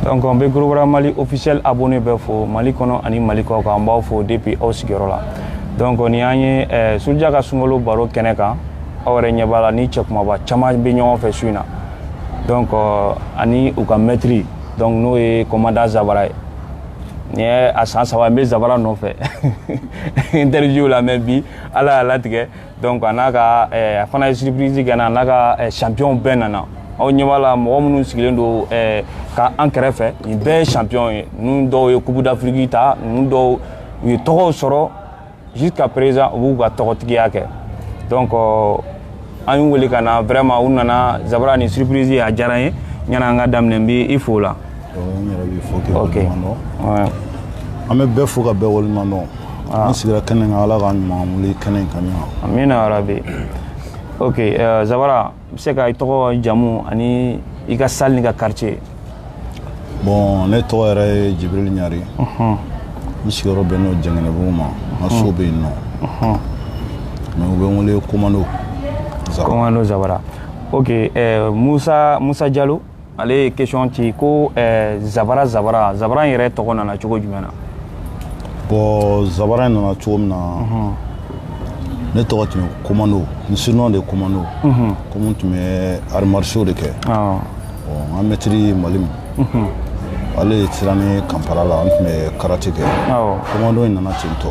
donc an bɛ gorobara mali officiel abonné bɛɛ fo mali kɔnɔ ani mali kɔkan an b'aw fo depuis aw sigiyɔrɔ la donc ni an ye eh, suruja ka sunkalo baro kɛnɛ kan aw yɛrɛ ɲɛ b'a la ni cɛ kunbaba caman bɛ ɲɔgɔn fɛ su in na donc euh, ani u ka mɛtiri donc n'o ye kɔmanda zabara ye nin ye a san saba n bɛ zabara nɔfɛ interview la mɛ bi ala y'a latigɛ donc a n'a ka a fana ye surprise kɛ n na a n'a ka champion bɛɛ nana aw ɲɛ b'a la mɔgɔ minnu sigilen don ka an kɛrɛfɛ nin bɛɛ ye champion ye ninnu dɔw ye coupe d'afrique ta ninnu dɔw u ye tɔgɔw sɔrɔ jusqu'à présent u b'u ka tɔgɔtigiya kɛ donc an y'u wele ka na vraiment u nana zabara nin surprise a diyara n ye ɲana an ka daminɛ n b'i fo la n yɛrɛ b'i fo k'i waleɲuman dɔn an bɛ bɛɛ fo ka bɛɛ waleɲuman dɔn an sigira kɛnɛ kan ala k'an ɲuman wuli kɛnɛ in kan yan amina yarabi ok eh, zabara i bɛ se ka i tɔgɔ jamu ani i ka salle n'i ka quartier bɔn ne tɔgɔ yɛrɛ ye jibril ɲari n sigiyɔrɔ bɛn n'o jɛngɛnɛbugu ma n ka so bɛ yen nɔ mɛ u bɛ n wele komando komando zabara ok eh, musa musa jalo ale ye question ci ko eh, zabara zabara zabara in yɛrɛ tɔgɔ nana cogo jumɛn na bɔn zabara in nana cogo min na mhm. ne tɔgɔ tun ye komando n surnom de komando mhm. komi n tun bɛ arts martiaux de kɛ ah. n ka mɛtiri ye mali min mhm. ale ye siran ni kanpara la n tun bɛ karate kɛ komando in nana ten tɔ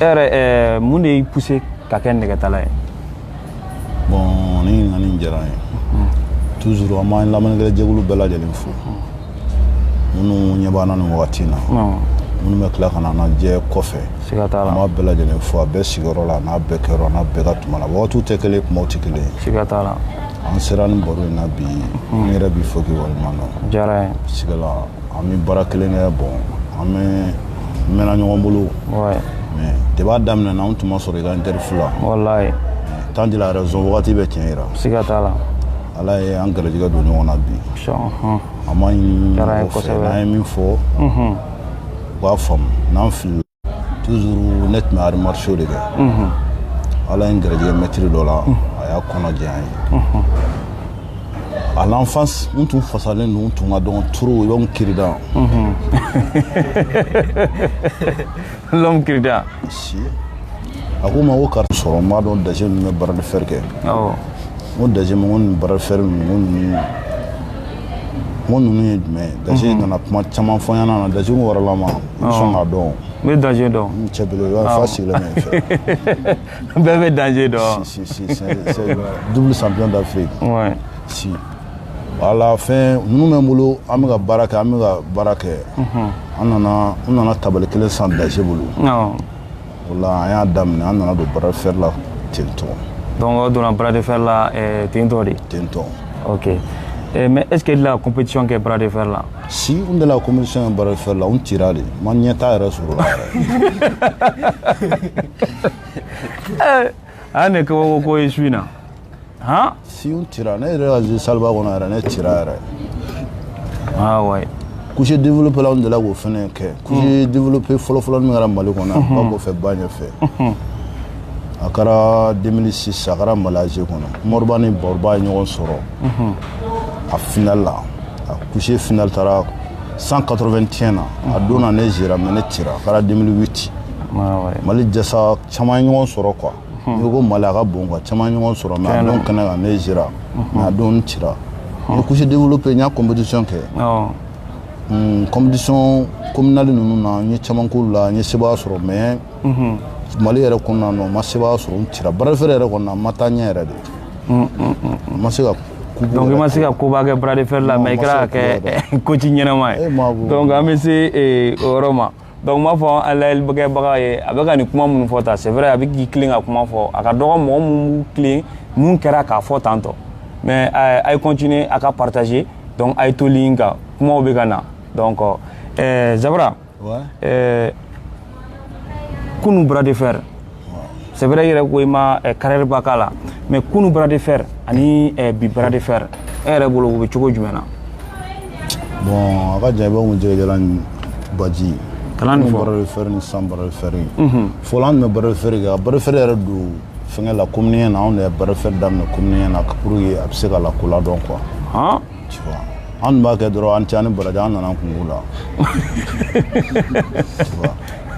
e yɛrɛ ɛɛ mun de y'i poussé ka kɛ nɛgɛtala ye bɔn nin ɲininkali in diyara n ye toujours an b'an lamɛnnikɛla jɛkulu bɛɛ lajɛlen fo minnu ɲɛ b'an na nin wagati in na minnu bɛ tila ka na an lajɛ kɔfɛ siga t'a la an b'a bɛɛ lajɛlen fo a bɛɛ sigiyɔrɔ la a n'a bɛɛ kɛyɔrɔ a n'a bɛɛ ka tuma la wagatiw tɛ kelen ye kumaw tɛ kelen ye siga t'a la an sera nin baro in na bi n yɛrɛ b'i fo k'i waleɲuman dɔn diyara n ye sigala an bɛ baara kelen kɛ bɔn an bɛɛ mɛnna ɲɔgɔn bolo mɛ depuis a daminɛ na an tun ma sɔrɔ i ka interview la walayi temps dit la raison wagati bɛ tiɲɛ yira siga t'a la ala ye an garijɛgɛ don ɲɔgɔn na bi an b'a ɲini mɔgɔ fɛ n'an ye min fɔ u k'a faamu n'an filila toujours ne tun bɛ arts martiaux de kɛ ala ye n garijɛgɛ mɛtiri dɔ la a y'a kɔnɔ diya n ye à l'enfance n tun fasalen don n tun ka dɔgɔn trop l'homme cure-dent l'homme cure-dent si a ko n ma ko kari sɔrɔ n b'a dɔn daje ninnu bɛ barre de fer kɛ n ko daje ma ko nin barre de fer ninnu ko ninnu n ko ninnu ye jumɛn ye daje nana kuma caman fɔ n ɲɛna na daje waralama sɔn ka dɔn n bɛ danger dɔn n cɛ bolo i b'a fa sigilen bɛ fɛ bɛɛ bɛ danger dɔn si si si c'est double champion d'Afrique ouais si wala fɛn ninnu bɛ n bolo an bɛ ka baara kɛ an bɛ ka baara kɛ an nana n nana tabali kelen san danger bolo voilà an y'a daminɛ an nana don bras de fer la ten tɔ donc aw donna bras de fer la eh, ten tɔ de ten tɔ ok eh, mais est ce que e delila compétition kɛ bras de fer la si n delila compétition kɛ bras de fer la n tira de n ma ɲɛtaa yɛrɛ sɔrɔ a la yɛrɛ a ne kabako ko ye su in na han si n tira ne yɛrɛ ka salle ba kɔnɔ yɛrɛ ne tira yɛrɛ aa ouais couché développé la anw delila k'o fɛnɛ kɛ couché développé fɔlɔfɔlɔ min kɛra mali kɔnɔ ba kɔfɛ ba ɲɛfɛ a kɛra 2006 a kɛra malaise kɔnɔ moriba ni baroba ye ɲɔgɔn sɔrɔ a final la a couché final taara 181 na a don na ne zera mais ne tira a kɛra 2008 mali jasa caman ɲɔgɔn sɔrɔ quoi hmm. n'i ko mali a ka bon quoi caman ɲɔgɔn sɔrɔ mais a don kɛnɛ kan ne zira mais a don n tira n ye couché développé n y'a compétition kɛ hmm, compétition communale ninnu na n ye caman k'olu la n ye sebaa sɔrɔ mais mali yɛrɛ kɔnɔna na n ma sebaa sɔrɔ n tira bras de fer yɛrɛ kɔnɔna n ma taa ɲɛ yɛrɛ de n ma se ka donc i ma se ka koba kɛ bras de fer la mais i kɛra ka kɛ coach ɲɛnama ye donc an bɛ se o yɔrɔ ma donc m'a fɔ an lajɛlikɛbaga ye a bɛ ka nin kuma minnu fɔ tan c'est vrai a bɛ k'i tilen ka kuma fɔ a ka dɔgɔ mɔgɔ minnu b'u tilen mun kɛra k'a fɔ tan tɔ mais euh, a ye continuer a ka partager donc a ye to ligne kan kumaw bɛ ka na donc euh, zabara ouais. euh, kunu bras de fer c'est vrai i yɛrɛ ko i ma eh, carrière ba k'a la mais kunu bras de fer ani eh, bi bras de fer e yɛrɛ bolo u bɛ cogo jumɛn na bon a ka jan i b'a kun jɛgɛjalan ni baji kalan nin fɔlɔ bras de fer ni sisan bras de fer ye fɔlɔ an tun bɛ bras de fer kɛ ka bras de fer yɛrɛ don fɛngɛ la commune 1 na anw de ye bras de fer daminɛ commune 1 na pour que a bɛ se ka lakodɔn quoi An tun b'a kɛ dɔrɔn a ni ce a ni baraji an nana kun la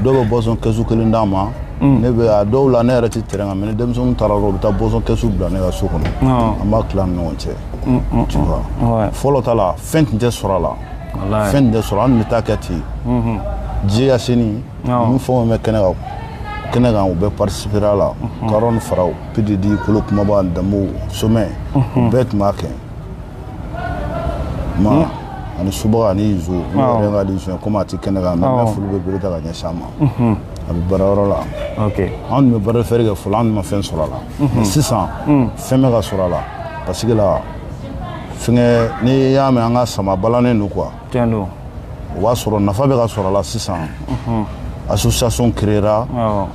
dɔw bɛ boisson kɛsu kelen d'an ma mm. ne bɛ dɔw la ne yɛrɛ tɛ terrain kan mais ni denmisɛnninw taara u bɛ taa boisson kɛsu bila ne ka so kɔnɔ an b'a tila ɲɔgɔn cɛ mm, mm, fɔlɔ ta la fɛn tun tɛ sɔrɔ a la fɛn tɛ sɔrɔ an bɛ taa kɛ ten mm-hmm. diɲɛ ka sini n fɛn bɛ kɛnɛ ka kɛnɛ kan u bɛ participer a la mhm. karɔn faraw pididi kolo kumaba danbo somɛ mhm. bɛɛ tun b'a kɛ ma ani subaga ani izo ne Awɔ. yɛrɛ ka di izo ye komi a tɛ kɛnɛ kan mais Awɔ. ne furu bɛ bere ta ka ɲɛsin a ma a bɛ baara yɔrɔ la ok an tun bɛ bras de fer kɛ fɔlɔ an tun ma fɛn sɔrɔ a la mais sisan fɛn bɛ ka sɔrɔ a la parce que la fɛngɛ n'i y'a mɛn an ka sama balannen don quoi tiɲɛ don o b'a sɔrɔ nafa bɛ ka sɔrɔ a la sisan association créera awɔ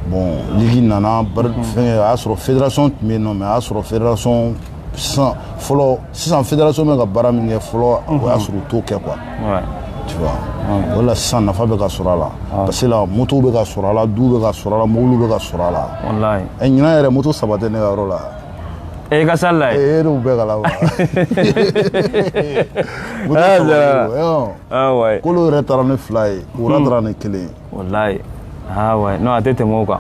bon ligi nana bari- fɛngɛ a y'a sɔrɔ fédération tun bɛ yen nɔ mais a y'a sɔrɔ fédération sisan fɔlɔ sisan fédération bɛ ka baara min kɛ fɔlɔ o y'a mhm. sɔrɔ u t'o kɛ quoi tu vois o la sisan nafa bɛ ka sɔrɔ a la parce que la moto bɛ ka sɔrɔ a la du bɛ ka sɔrɔ a la mobili bɛ ka sɔrɔ a la walayi ɛ ɲinan yɛrɛ moto saba tɛ ne ka yɔrɔ la e ka salle la ye e n'u bɛɛ ka la wa moto saba ye kolo yɛrɛ taara ni fila ye wura hmm. taara ni kelen ye walayi ah ouais non a tɛ tɛmɛ o kan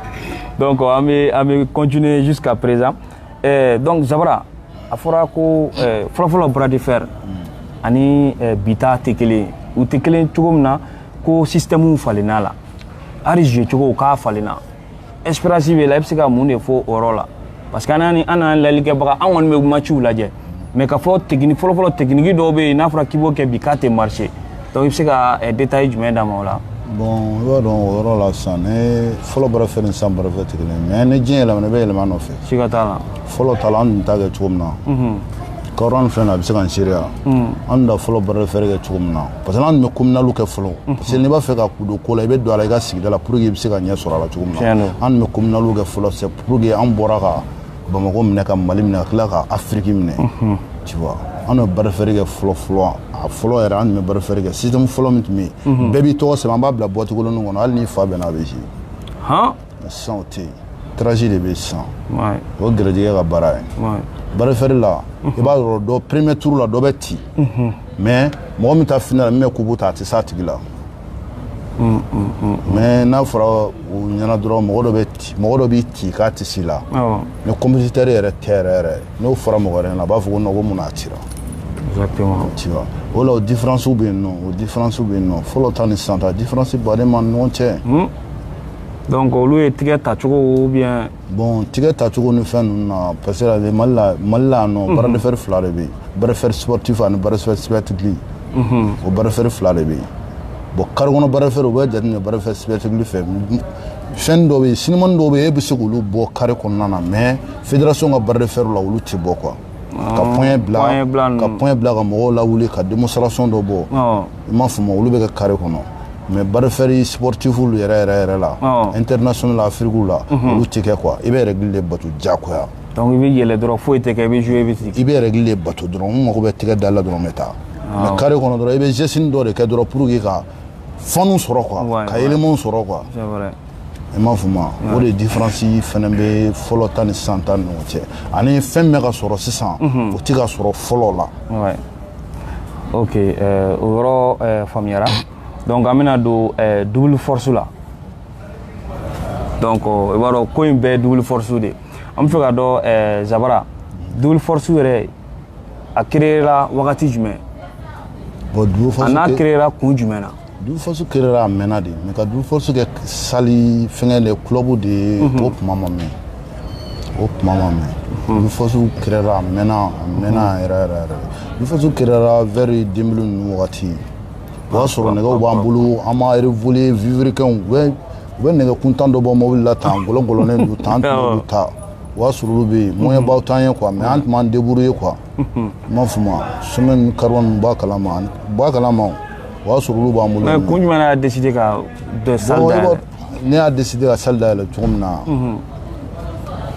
donc an bɛ an bɛ continuer jusqu'à présent Eh, donc zabara a fɔra ko eh, fɔlɔfɔlɔ bras de fer mm. ani eh, bi ta tɛ kelen u tɛ kelen cogo min na ko système falenna la hali jouer cogo k'a falenna expérience b'i la i bɛ se ka mun de fɔ o yɔrɔ la parce que an n'an an n'an lajɛlikɛbaga an kɔni bɛ matchw lajɛ mais k'a fɔ technique fɔlɔfɔlɔ technique dɔw bɛ yen n'a fɔra k'i b'o kɛ bi k'a tɛ marcher Donc i bɛ se ka eh, détail jumɛn d'an ma o la bon i b'a dɔn o yɔrɔ la sisan ne fɔlɔ bras de fer ni sisan bras de fer tɛ kelen mais ni diɲɛ yɛlɛmana i bɛ yɛlɛma nɔfɛ siga t'a la fɔlɔ ta la an tun t'a kɛ cogo min na mhm. kɔrɔ filɛ nin a bɛ se ka n seereya mhm. an tun da fɔlɔ bras de fer kɛ cogo min na parce que an tun bɛ communaliw kɛ fɔlɔ mhm. parce que n'i b'a fɛ ka don ko la i bɛ don a la i ka sigida la pour que i bɛ se ka ɲɛ sɔrɔ a la cogo min na an tun bɛ communaliw kɛ fɔlɔ c'est pour que an bɔra ka bamakɔ minɛ ka mali minɛ ka tila ka afiriki minɛ tu vois an tun bɛ bras de fer kɛ fɔlɔ fɔlɔ a fɔlɔ yɛrɛ an tun bɛ bras de fer kɛ système fɔlɔ min tun bɛ yen bɛɛ b'i tɔgɔ sɛbɛn an b'a bila boîte kolonnin kɔnɔ hali n'i fa bɛnna a bɛ ci han mais sisan o tɛ yen tirage de bɛ yen sisan ouais o ye gɛrɛjɛgɛ ka baara ye ouais bras de fer la i b'a sɔrɔ dɔ premier tour la dɔ bɛ ci mais mɔgɔ min taa final la min bɛ kupu ta a tɛ s'a tigi la mm, mm, mm, mais n'a fɔra o ɲɛna dɔrɔn mɔgɔ dɔ bɛ mɔgɔ dɔ b'i ci k'a tɛ s'i la ni compétiteur yɛrɛ tɛ yɛrɛ yɛrɛ n'o fɔra mɔgɔ wɛrɛ ɲɛna a b'a fɔ ko non ko mun na a cira tu vois o la o différence bɛ yen nɔ o différence bɛ yen nɔ fɔlɔ ta ni sisan ta différence ba de b'a ni ɲɔgɔn cɛ donc olu ye tigɛ tacogo ou bien bon tigɛ tacogo ni fɛn ninnu na parce que mali la mali la yan nɔ bras de fer fila de bɛ yen bras de fer sportif ani bras de fer spectacle o bras de fer fila de bɛ yen bon carré kɔnɔ bras de fer o bɛ jateminɛ bras de fer spectacle fɛ fɛn dɔ bɛ yen sinimani dɔw bɛ yen e bɛ se k'olu bɔ carré kɔnɔna na mais fédération ka bras de fer la olu tɛ bɔ quoi ka poignet bila ka poignet bila ka mɔgɔw lawuli ka démonstration dɔ bɔ i m'a faamu olu bɛ kɛ carré kɔnɔ mais bras de fer sportif yɛrɛ yɛrɛ yɛrɛ la international la afrique la olu tɛ kɛ quoi i bɛ règle de bato diyagoya donc i bɛ yɛlɛ dɔrɔn foyi tɛ kɛ i bɛ jouer i bɛ sigi i bɛ règle de bato dɔrɔn n mago bɛ tɛgɛ da la dɔrɔn n bɛ taa mais carré kɔnɔ dɔrɔn i bɛ geste dɔ de kɛ dɔrɔn pour que ka fanu sɔrɔ quoi ka élément sɔrɔ quoi c'est vrai i m'a faamuya o de différence fana bɛ fɔlɔ ta ni sisan ta ni ɲɔgɔn cɛ ani fɛn bɛ ka sɔrɔ sisan o tɛ ka sɔrɔ fɔlɔ la ok euh, o yɔrɔ euh, faamuyara donc an bɛna don euh, double force la donc i b'a dɔn ko in bɛɛ double force de an b'a fɛ k'a dɔn zabara double force yɛrɛ a créera wagati jumɛn a n'a créera kun jumɛn na double force créera a mɛnna dɛ mais ka double force kɛ salle fɛngɛ de club de ye mhm. o kuma ma mɛn o kuma ma mɛn mhm. double force créera a mɛnna a mɛnna mhm. yɛrɛ yɛrɛ yɛrɛ double force créera vers deux mille ninnu wagati o y'a sɔrɔ nɛgɛw b'an bolo an ma révoluer vilebrequinw u bɛ u bɛ nɛgɛ kuntan dɔ bɔ mobili la tan gɔlɔgɔlɔnen don tan an tun b'olu ta o y'a sɔrɔ olu bɛ yen moyenbaw t'an ye quoi mais an tun b'an débrouiller quoi i m'a faamu ciment kariwa ninnu b'a kalama u b'a kalama o o y'a sɔrɔ olu b'an bolo mais kun jumɛn y'a décidé ka dɔ salle dayɛlɛ ne y'a décidé ka salle dayɛlɛ cogo min na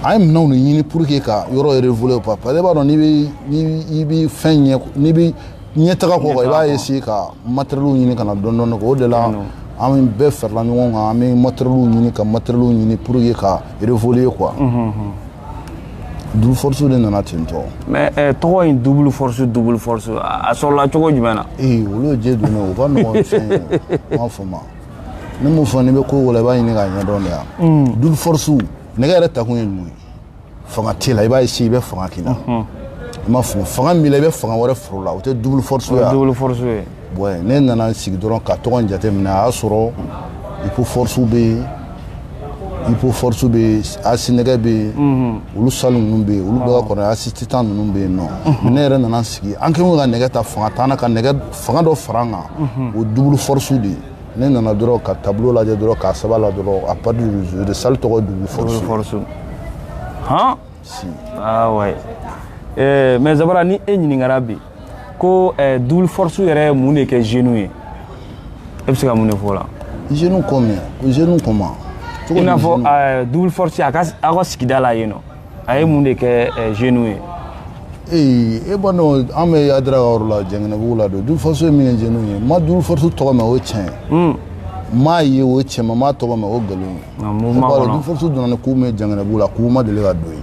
an ye minɛnw de ɲini pour que ka yɔrɔ révoluer quoi parce que i b'a dɔn n'i bɛ fɛn ɲɛ n'i bɛ ɲɛtaga kɔ i b'a essayer ka matériels ɲini ka na dɔɔni dɔɔni o de la an bɛɛ farala ɲɔgɔn kan an bɛ matériels ɲini ka matériels ɲini pour que ka révoluer quoi Duuru forooroso de nana ten tɔgɔ mɛ tɔgɔ in duuru forooroso duuru forooroso a sɔrɔla cogo jumɛn na ee olu jɛ don u ka mɔgɔ fɔ ma ni min fɔ ne bɛ ko wala i b'a ɲini ka ɲɛdɔn de yan mm. duuru forooroso ne yɛrɛ takun ye mun ye fanga tɛ la i b'a si i bɛ fanga kelen na i ma fanga min i bɛ fanga wɛrɛ foro la o tɛ duuru forooroso ye bon ne nana n sigi dɔrɔn ka tɔgɔ in jateminɛ a y'a sɔrɔ ipo force bɛ yen ipo force bɛ yen asi nɛgɛ bɛ yen mhm. olu salle ninnu bɛ yen olu bɛɛ ka kɔrɔ asi titan ninnu bɛ yen nɔ mhm. ne yɛrɛ nana n sigi an kɛlen ka nɛgɛ ta fanga t'an na ka nɛgɛ fanga dɔ fara an kan mhm. o double force de ye ne nana dɔrɔn ka tableau lajɛ dɔrɔn k'a sɛbɛn la dɔrɔn à partir du jour de salle tɔgɔ double force han si ah ouais eh mais zabara ni e ɲininkara bi ko eh, double force yɛrɛ ye mun de kɛ jeunes ye e bɛ se ka mun de fɔ o la jeunes comme jeunes comment i n'a fɔ eh, double force a ka aw ka sigida la yen nɔ a ye mun de kɛ eh, jeunes ye ee e b'a dɔn an bɛ adira ka yɔrɔ la jɛngɛnɛbugu la don double force ye min kɛ jeunes ye ma double force tɔgɔ mɛn o ye tiɲɛ ye m'a ye o ye tiɲɛ ma m'a tɔgɔ mɛn o ye nkalon ye double force donna ni k'u mɛn jɛngɛnɛbugu la k'u ma deli ka don yen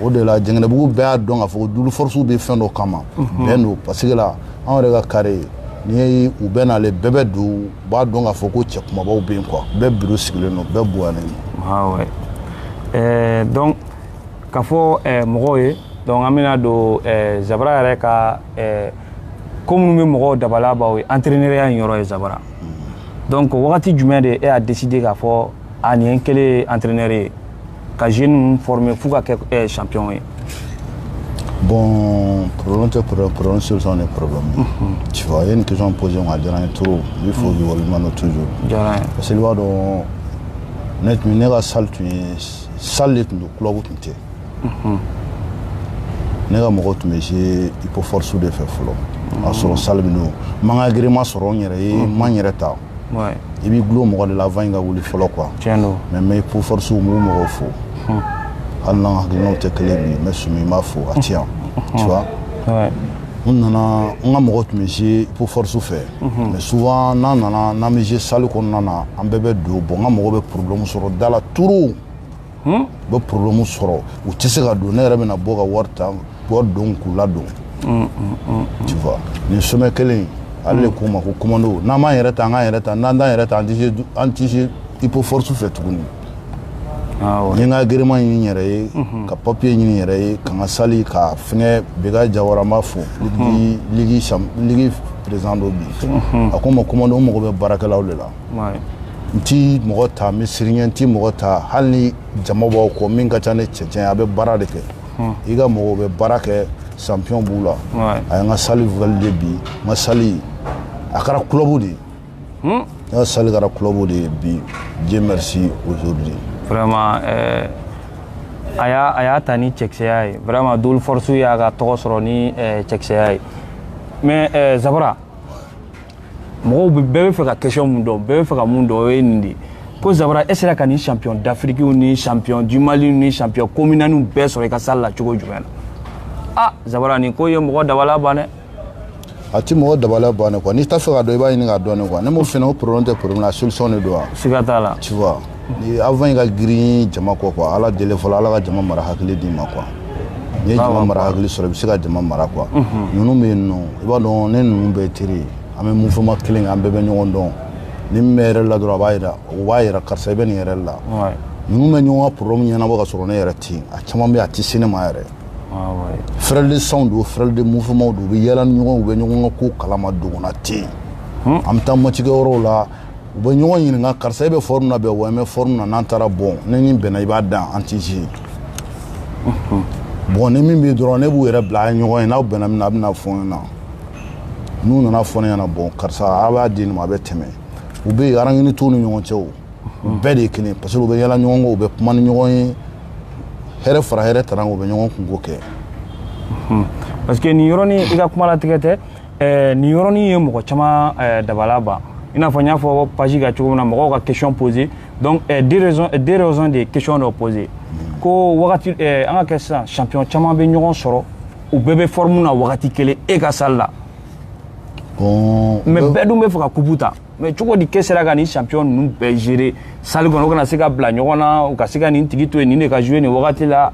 o de la jɛngɛnɛbugu bɛɛ y'a dɔn k'a fɔ ko double force bɛ fɛn dɔ kama mhm. bɛn don paseke la anw yɛrɛ ka kare n'i ye u bɛɛ n'ale bɛɛ bɛ don u b'a dɔn k'a fɔ ko cɛ kumabaw bɛ yen quoi bɛɛ biro sigilen don bɛɛ bonyalen don. Ah ouais. Euh, donc ka fɔ euh, mɔgɔw ye donc an bɛna don euh, Zabara yɛrɛ ka euh, ko minnu bɛ mɔgɔw dabala ban ye entraîneuriya in yɔrɔ ye Zabara donc wagati jumɛn de e y'a décidé k'a fɔ a nin ye n kɛlen ye entraîneur ye. ka jeune ninnu former f'u ka kɛ champion ye Bon, problème tɛ problème, problème solution de problème. Mm -hmm. Tu vois, i ye nin question posé n na, a diyara n ye trop. Il faut que waleɲuman dɔn toujours. Diyara n ye. Parce que i b'a dɔn ne tun ne ka salle tun ye salle de tun don club tun tɛ. Ne ka mɔgɔw tun bɛ jouer Hypoforce de fɛ fɔlɔ. A sɔrɔ salle min don. N ma n ka agrément sɔrɔ n yɛrɛ ye, n ma n yɛrɛ ta. i b'i dulon mɔgɔ de la avant i ka wuli fɔlɔ quoi mais n bɛ ipo force n'u mɔgɔw fo hali n'an hakilinaw tɛ kelen bi mais sumi n b'a fo a ti yan tu vois n nana n ka mɔgɔ tun bɛ jouer ipo force fɛ mais souvent n'an nana n'an bɛ jouer salle kɔnɔna na an bɛɛ bɛ don bon n ka mɔgɔ bɛ problème sɔrɔ da la trop u bɛ problème sɔrɔ u tɛ se ka don ne yɛrɛ bɛna bɔ ka wari ta wari don k'u ladon tu vois nin sumi kelen in ale de ko n ma ko commando n'an m'an yɛrɛ ta an k'an yɛrɛ ta n'an t'an yɛrɛ ta an tɛ se an tɛ se ipo force fɛ tuguni n ye n ka agrément ɲini n yɛrɛ ye ka papier ɲini n yɛrɛ ye ka n ka salle ka fɛngɛ beka jawara n b'a fo ligue ligue président don bi a ko n ma commando n mago bɛ baarakɛlaw de la n ti mɔgɔ ta n bɛ siriɲɛ n ti mɔgɔ ta hali ni jama b'aw kɔ min ka ca ni cɛncɛn a bɛ baara de kɛ hmm. i ka mɔgɔw bɛ baara kɛ champion b'u la a ye n ka salle validé bi n ka salle a kɛra club de ye hmm. n ka salle kɛra club de ye bi dieu merci aujourd'hui vraiment euh, a y'a a y'a ta ni cɛkisɛya ye vraiment double force y'a ka tɔgɔ sɔrɔ ni euh, cɛkisɛya ye mais euh, zabara mɔgɔw bɛ bɛɛ bɛ fɛ ka question mun dɔn bɛɛ bɛ fɛ ka mun dɔn o ye nin de ye ko zabara e sera ka nin champion d'afrique ni champion du mali ni champion communalw bɛɛ sɔrɔ i ka salle la cogo jumɛn na ah zabara nin ko ye mɔgɔ dabala ban dɛ a ti mɔgɔ dabala ban dɛ quoi n'i t'a fɛ ka dɔn i b'a ɲini k'a dɔn ne quoi ne m'o fɛnɛ o problème tɛ problème la solution de don wa siga t'a la tu vois Ni avant i ka girin jama kɔ quoi ala deli fɔlɔ ala ka jama mara hakili d'i ma quoi n'i ye jama mara hakili sɔrɔ i bɛ se ka jama mara quoi ninnu bɛ yen i b'a dɔn ne ninnu bɛɛ teri an bɛ mouvement kelen an bɛɛ bɛ ɲɔgɔn dɔn ni min bɛ erreur la dɔrɔn a b'a jira o b'a jira karisa i bɛ nin erreur la ninnu bɛ ɲɔgɔn ka problème ɲɛnabɔ ka sɔrɔ ne yɛrɛ tɛ yen a caman bɛ yen a tɛ se ne ma yɛrɛ frère de sangw don frère de mouvementw don u bɛ yɛlɛ ni ɲɔgɔn u bɛ ɲɔgɔn ka ko kalama donna tɛ yen an bɛ taa match kɛ yɔrɔ la u bɛ ɲɔgɔn ɲininka karisa e bɛ forme na bɛn wa n bɛ forme na n'an taara bon ne ni bɛnna i b'a dɔn an tɛ jouer bon ni min bɛ dɔrɔn ne b'u yɛrɛ bila a ye ɲɔgɔn ye n'aw bɛnna min na a bɛna fɔ ne ɲɛna n'u nana fɔ ne ɲɛna bon karisa a b'a di nin ma a bɛ tɛmɛ u bɛ yen rancune t'u ni ɲɔgɔn cɛ o u bɛɛ de ye kelen parce que u bɛ yala ɲɔgɔn kɔ u bɛ kuma ni ɲɔgɔn ye hɛrɛ fara hɛrɛ tana u bɛ ɲɔgɔn kunko kɛ parce que nin yɔrɔnin i ka kuma latigɛ tɛ ɛɛ nin yɔrɔnin ye mɔgɔ caman ɛɛ dabala ban i n'a fɔ n y'a fɔ page ka cogo min na mɔgɔw ka question poser donc ɛɛ deux raisons deux raisons de question dɔ poser ko wagati ɛɛ an ka kɛ sisan champion caman bɛ ɲɔgɔn sɔrɔ u bɛɛ bɛ forme na wagati kelen e ka salle la bon mais bɛɛ dun bɛ fɛ ka coupe ta mais cogo di k'e sera ka nin champion ninnu bɛɛ gérer salle kɔnɔ u kana se ka bila ɲɔgɔn na u ka se ka nin tigi to yen nin de ka jouer nin wagati la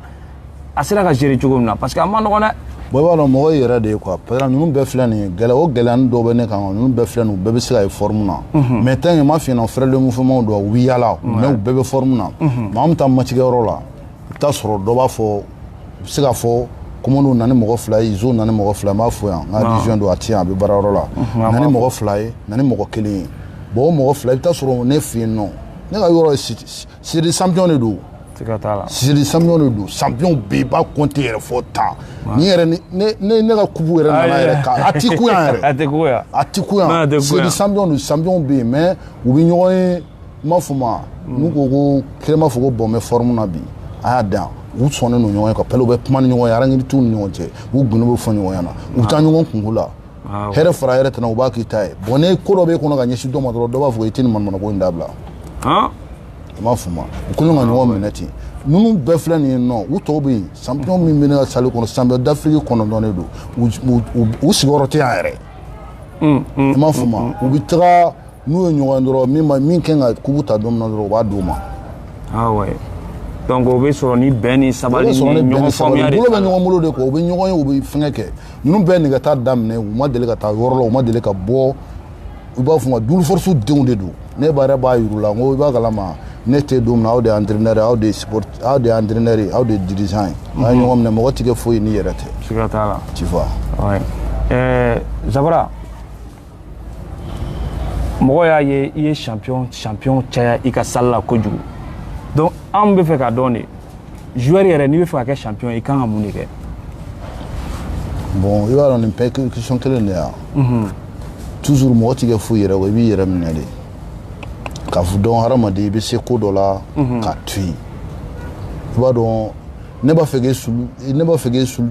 a sera ka gérer cogo min na parce que a ma nɔgɔn dɛ bon i b'a dɔn mɔgɔ yɛrɛ de ye quoi parce que ninnu bɛɛ filɛ nin ye gɛlɛya o gɛlɛyani dɔw bɛ ne kan ninnu bɛɛ filɛ nin u bɛɛ bɛ se ka ye forme na mhm. mais tant que ma f'i ɲɛna frère de mouvement don u bɛ yaala mais u bɛɛ bɛ forme na mhm. mais an bɛ taa match kɛyɔrɔ la i bɛ taa sɔrɔ dɔ b'a fɔ u bɛ se ka fɔ komoniw na ni mɔgɔ fila ye izo na ni mɔgɔ fila ye n b'a fɔ yan n ka region don a ti yan a bɛ baarayɔrɔ la mhm, na ni mɔgɔ fila ye na ni mɔgɔ kelen ye bon o mɔgɔ fila i bɛ taa sɔrɔ ne fɛ yen nɔ ne ka yɔrɔ ye Sidi champion de don sidi champion de don champion bɛ yen i b'a compter yɛrɛ fɔ tan ni yɛrɛ ne ka coupe yɛrɛ nana yɛrɛ kan a ti kun yan yɛrɛ a ti kun yan sidi champion don champion bɛ yen mais u bɛ ɲɔgɔn ye n b'a fɔ ma hmm. n'u ko ko kelen b'a fɔ ko bon n bɛ forme na bi a y'a dan u sɔnnen don ɲɔgɔn ye quoi pew u bɛ kuma ni ɲɔgɔn ye rancune t'u ni ɲɔgɔn cɛ u gundo bɛ fɔ ɲɔgɔn ɲɛna u bɛ taa ɲɔgɔn kunko la hɛrɛ fara hɛrɛ tana u b'a k'i ta ye bon ni ko dɔ b'e kɔnɔ ka ɲɛsin dɔ ma dɔrɔn dɔ b'a fɔ i tɛ nin manamana ko in dabila i m'a faamu u kɛlen ka ɲɔgɔn minɛ ten ninnu bɛɛ filɛ nin ye nɔ u tɔw bɛ yen champion min bɛ ne ka salle kɔnɔ champion d'Afrique kɔnɔntɔn de don u sigiyɔrɔ tɛ yan yɛrɛ i m'a faamu u bɛ taga n'u ye ɲɔgɔn dɔrɔn min ma min kan ka coupe ta don min na dɔrɔn u b'a d'u ma ah ouais donc o bɛ sɔrɔ ni bɛn ni sabali ni ɲɔgɔn faamuya de bolo bɛ ɲɔgɔn bolo de kɔ u bɛ ɲɔgɔn ye u bɛ fɛngɛ kɛ ninnu bɛɛ nɛgɛta daminɛ u ma deli ka taa yɔrɔ la u ma deli ka bɔ u b'a fɔ u ma Dulu force denw de don ne yɛrɛ b'a yir'u la n ko i b'a kalama ne tɛ don min na aw de ye entraîneur aw de ye support aw de ye entraîneur ye aw de ye dirigeant ye mhm. n'a ye ɲɔgɔn minɛ mɔgɔ tɛ kɛ foyi n'i yɛrɛ tɛ siga t'a la tu vois ouais. euh, Zabara mɔgɔ y'a ye i ye champion champion caya i ka salle la kojugu donc anw bɛ fɛ k'a dɔn de joueur yɛrɛ n'i bɛ fɛ ka kɛ champion i kan ka mun de kɛ bon i b'a dɔn nin bɛɛ question kelen de yan mhm. toujours mɔgɔ tɛ kɛ foyi yɛrɛ kɔ i b'i yɛrɛ minɛ de k'a fɔ dɔn hadamaden i bɛ se ko dɔ la mhm. k'a to yen i b'a dɔn ne b'a fɛ k'e sulu ne b'a fɛ k'e sulu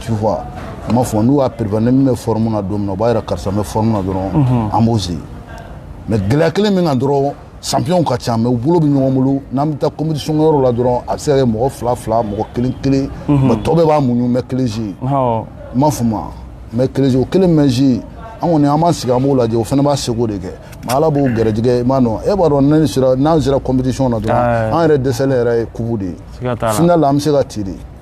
tu vois n m'a fɔ n'u y'a préparer ni min bɛ fɔrɔmu na don min na u b'a yira karisa bɛ fɔrɔmu na dɔrɔn mhm. an b'o sigi mɛ gɛlɛya kelen min kan dɔrɔn sanpiyɔnw ka ca mɛ u bolo bɛ ɲɔgɔn bolo n'an bɛ taa competition yɔrɔ la dɔrɔn a bɛ se ka kɛ mɔgɔ fila fila mɔgɔ kelen kelen mhm. mɛ tɔ bɛɛ b'a muɲu mɛ kelen si n m'a f'u ma mɛ kelen si o kelen mɛ si an kɔni an b'an sigi an b'o lajɛ o fana b'a seko de kɛ mɛ ala b'o gɛrɛjɛgɛ i m'a dɔn e b'a dɔn ne sera n'an sera competition na dɔrɔn an yɛrɛ dɛsɛlen yɛrɛ ye kupu de ye final la an bɛ se ka ci de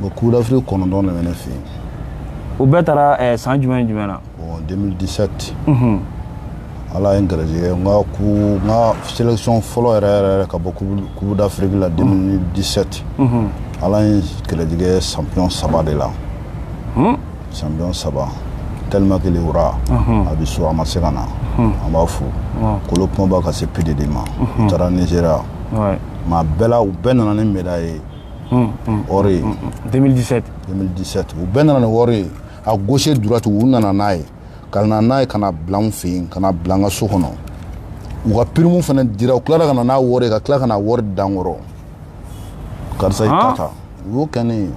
bon coupe d'Afrique kɔnɔntɔn de bɛ ne fɛ yen u bɛɛ taara eh, san jumɛn jumɛn na bon 2017 mhm. ala ye n garijɛgɛ n ka ku n ka sélection fɔlɔ yɛrɛ yɛrɛ yɛrɛ ka bɔ coupe d'afrique la 2017 mhm. mhm. ala ye garijɛgɛ champion saba de la hmm? champion saba tellement que le wura a bɛ so a ma se ka na an b'a fo kolo kumaba ka se pididi ma u taara nigéria mɛ a bɛɛ la u bɛɛ nana ni médaille ye ɔri ye u bɛɛ nana ni ɔri ye a gauche droite u nana n'a ye ka na n'a ye ka na bila n fɛ yen ka na bila n ka so kɔnɔ u ka pirimu fana dira u tilara ka na n'a wɔri ye ka tila ka na wɔri da n kɔrɔ karisa i ta ta u y'o kɛ ne ye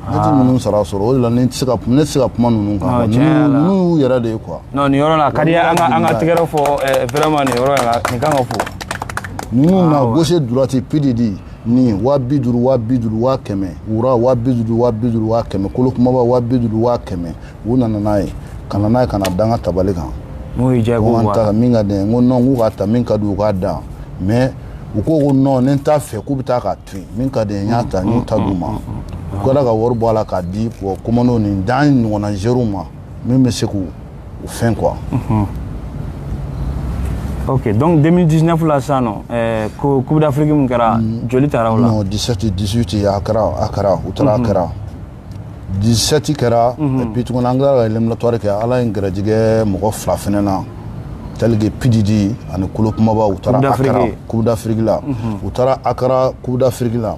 ne tɛ ninnu sara sɔrɔ o de la ne tɛ se ka ne tɛ se ka kuma ninnu kan ninnu y'u yɛrɛ de ye quoi. non nin yɔrɔ la ka di an ka an ka tɛgɛrɛ fɔ vraiment nin yɔrɔ la nin kan ka fo. ninnu na gauche droite PDD. ni waa bi duuru waa bi duuru waa kɛmɛ wura waa bi duuru waa bi duuru waa kɛmɛ kolo kumaba waa bi duuru waa kɛmɛ u nana n'a ye ka na n'a ye ka na da n ka tabali kan n'o y'i diya i ko ko n k'a ta min ka di n ye n ko nɔn k'u k'a ta min ka di u k'a dan mɛ u ko ko nɔn ni n t'a fɛ k'u bɛ taa k'a to yen min ka di n ye n y'a ta n y'u ta d'u ma u kɛra ka wari bɔ a la k'a di bɔ komandow ni dan ɲɔgɔnna zeriw ma min bɛ se k'u o fɛn quoi ok donc 2019 la sisan nɔ eh, ko coupe d'afrique min kɛra mm. joli taara o la non 17 18 a kɛra akara u taara akara mhm. 17 kɛra mhm. et puis tuguni an tilara ka éliminatoire kɛ ala ye n gɛrɛjigɛ mɔgɔ fila fɛnɛ na tel que pididi ani kolo kumaba u taara akara coupe d'afrique la mhm. u taara akara coupe d'afrique la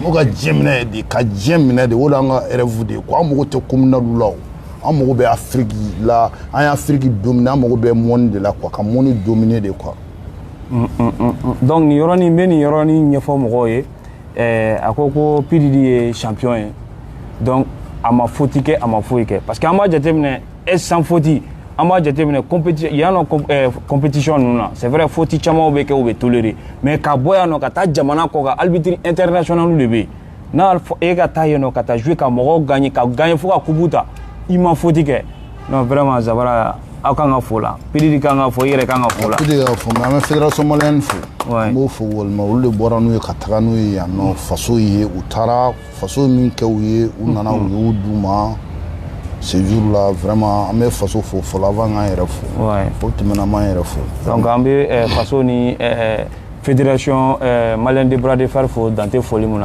n'u ka diɲɛ minɛ de ka diɲɛ minɛ de o la an ka rɛvu de ye ko an mago tɛ kominaliw la o an mago bɛ afiriki la an ye afiriki domine an mago bɛ mɔni de la kuwa ka mɔni domine de kuwa mm, mm, mm, donc nin yɔrɔnin n bɛ nin yɔrɔnin ɲɛfɔ mɔgɔw ye eh, a ko ko pididi ye champion ye donc a ma foti kɛ a ma foyi kɛ parce que an b'a jateminɛ e san foti an b'a jateminɛ yan nɔ kɔnpetisiɔn eh, ninnu na c'est vrai foti camanw bɛ kɛ u bɛ tolere mais ka bɔ yan nɔ ka taa jamana kɔkan albitiri internationalu de bɛ yen n'a e ka taa yen nɔ ka taa jouer ka mɔgɔw gagne ka gagne fo ka kupu ta i ma foti kɛ non vraiment zabara aw kan ka fo la pididi kan ka fo i yɛrɛ kan ka fo la pididi ka fo an bɛ fédération malienne fo n b'o fo walima olu de bɔra n'u ye ka taga n'u ye yan nɔ faso ye u taara faso min kɛ u ye u nana u y'o d'u ma ce jour là vraiment an bɛ faso fo fɔlɔ avant k'an yɛrɛ fo o tɛmɛna an b'an yɛrɛ fo donc an bɛ eh, faso ni eh, eh, fédération malienne de bras de fer fo dan tɛ foli mun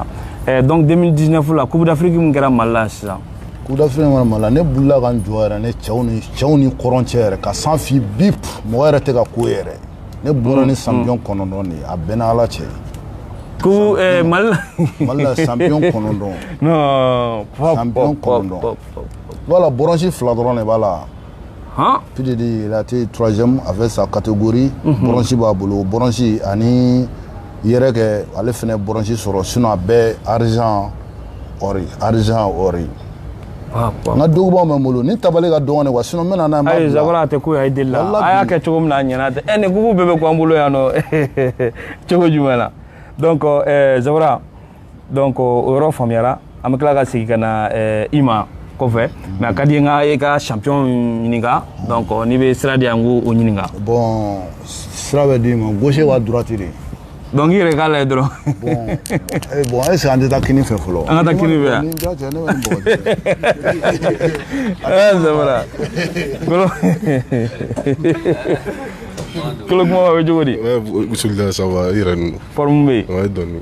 na donc 2019 la coupe d'afrique min kɛra mali la sisan coupe d'afrique kɛra mali la ne bolila ka n jɔ yɛrɛ ne cɛw ni cɛw ni kɔrɔn cɛ yɛrɛ ka san fi bi mɔgɔ yɛrɛ tɛ ka ko yɛrɛ ne bɔra ni sanpiyɔn kɔnɔntɔn de ye a bɛnna ala cɛ ko eh, mali la mali la sanpiyɔn kɔnɔntɔn sanpiyɔn kɔnɔntɔn voilà bɔrɔnsi fila dɔrɔn de b'a la pididi il a été troisième avec sa catégorie bɔrɔnsi b'a bolo bɔrɔnsi ani yɛrɛ kɛ ale fana bɔrɔnsi sɔrɔ sinɔn a bɛɛ arizan ɔri arizan ɔri n ka dugubaw bɛ n bolo nin tabali ka dɔgɔn de kuwa sinɔn n bɛna n'a ye zabara tɛ ko ye deli la a y'a kɛ cogo min na a ɲɛna tɛ ɛ nin kupu bɛɛ bɛ k'an bolo yan nɔ cogo jumɛn na donc zabara donc o yɔrɔ faamuyara an bɛ tila ka segin ka na eh, i ma kɔfɛ mais a ka di n ka e ka champion ɲininka donc n'i bɛ sira di yan n k'o ɲininka bon sira bɛ d'i ma gauche wa droite de donc i yɛrɛ k'a lajɛ dɔrɔn bon est ce que an tɛ taa kini fɛ fɔlɔ an ka taa kini fɛ yan zabara kolo kolo kuma bɛ cogo di bisimila ça va i yɛrɛ ninnu forme bɛ yen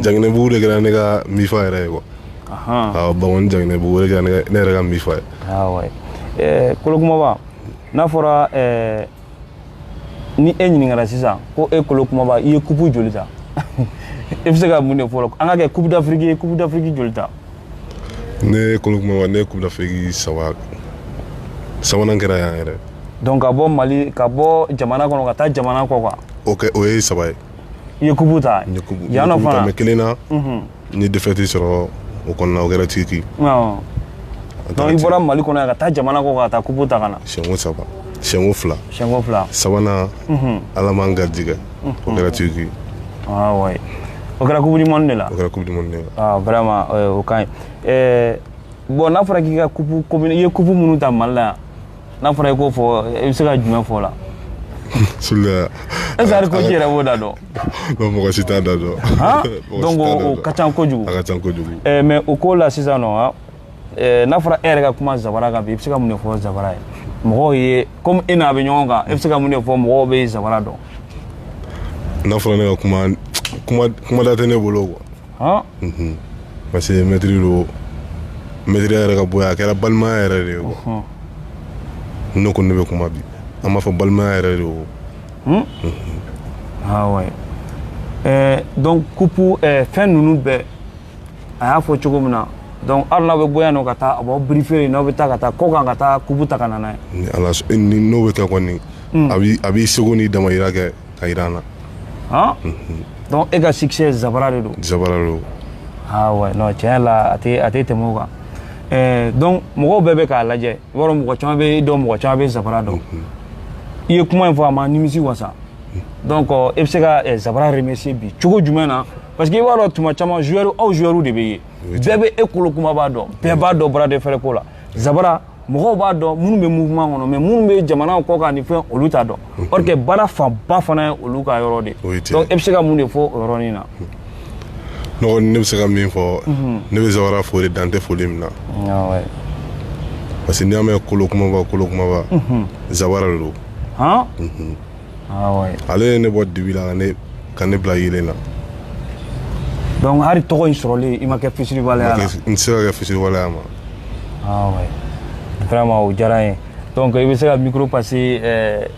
janginɛbugu de kɛra ne ka mifa yɛrɛ ye kuwa awɔ bankoni janginɛbugu o de kɛra ne yɛrɛ ka mifa ye awɔ eh, kolokumaba n'a fɔra eh, ni e ɲininkara sisan ko e kolokumaba i ye kupu joli ta i bɛ se ka mun de fɔ an ka kɛ kupu dafiriki ye kupu dafiriki joli ta ne kolokumaba ne ye kupu dafiriki saba sabanan kɛra yan yɛrɛ donc ka bɔ mali ka bɔ jamana kɔnɔ ka taa jamana kɔkan ok o ye saba ye i ye kupu ta n ye kupu yan nɔ fana mɛ kelen na n ye defɛti sɔrɔ o kɔnɔna o kɛra turki donc i bɔra mali kɔnɔ yan ka taa jamana kɔ ka taa kupu ta ka na siyɛnko saba siyɛnko fila siyɛnko fila sabanan ala m'an garijɛgɛ o kɛra turki awɔ o kɛra kupu dimɔni de la o kɛra kupu dimɔni de la vraiment o ka ɲi bɔn n'a fɔra k'i ka kupu i ye kupu minnu ta mali la yan n'a fɔra i k'o fɔ i bɛ se ka jumɛn fɔ o la Sula. Est-ce que coach yɛrɛ b'o da dɔn? Non mɔgɔ si t'a da dɔn. Donc o ka ca kojugu. A ka ca kojugu. Eh mais o ko la sisan nɔ han eh, n'a fɔra e yɛrɛ ka kuma Zabara kan bi i bɛ se ka mun de fɔ Zabara ye? Mɔgɔw ye comme e n'a bɛ ɲɔgɔn kan e bɛ se ka mun de fɔ mɔgɔw bɛ Zabara dɔn? N'a fɔra ne ka kuma kuma kuma da tɛ ne bolo quoi. Ɔn unhun parce que maitre don maitreya yɛrɛ ka bon yan a kɛra balimaya yɛrɛ de ye quoi ɔnhɔn ni ne ko ne bɛ kuma bi an b'a fɔ balimaya yɛrɛ de o hun ah ouais ɛɛ donc coupe ɛɛ fɛn ninnu bɛɛ a y'a fɔ cogo min na donc hali n'aw bɛ bɔ yan nɔ ka taa a b'aw briefer n'aw bɛ taa ka taa kɔkan ka taa coupe ta ka na n'a ye ni ala s- ni n'o bɛ kɛ kɔni a b'i a b'i seko n'i damayira kɛ ka jira an na han donc e ka succès zabara de don zabara de don ah ouais non tiɲɛ la a tɛ a tɛ tɛmɛ o kan eh, donc mɔgɔw bɛɛ bɛ k'a lajɛ i b'a dɔn mɔgɔ caman bɛ e dɔn mɔgɔ caman bɛ zabara dɔn i ye kuma in fɔ a ma nimisi wasa donc e bɛ se ka eh, zabara remercier bi cogo jumɛn na parce que i b'a dɔn tuma caman joueur aw joueur de bɛ ye bɛɛ bɛ e kolo kumaba dɔn bɛɛ b'a dɔn bras de fer ko la zabara mɔgɔw b'a dɔn minnu bɛ mouvement kɔnɔ mais minnu bɛ jamanaw kɔkan ni fɛn olu t'a dɔn mhm. or que baara fanba fana ye olu ka yɔrɔ de donc e bɛ se ka mun de fɔ o yɔrɔnin na n dɔgɔ ne bɛ se ka min fɔ mhm. ne bɛ zawara fo de dan tɛ foli min na ah parce que n'i y'a mɛn kolo kumaba kolo kumaba mhm. zawara de don ale ye ne bɔ dibi la ka ne bila yeelen na donc hali tɔgɔ in sɔrɔlen i ma kɛ fisiriwaleya la n tɛ se ka kɛ fisiriwaleya ma ah vraiment o diyara n ye donc i bɛ se ka micro passer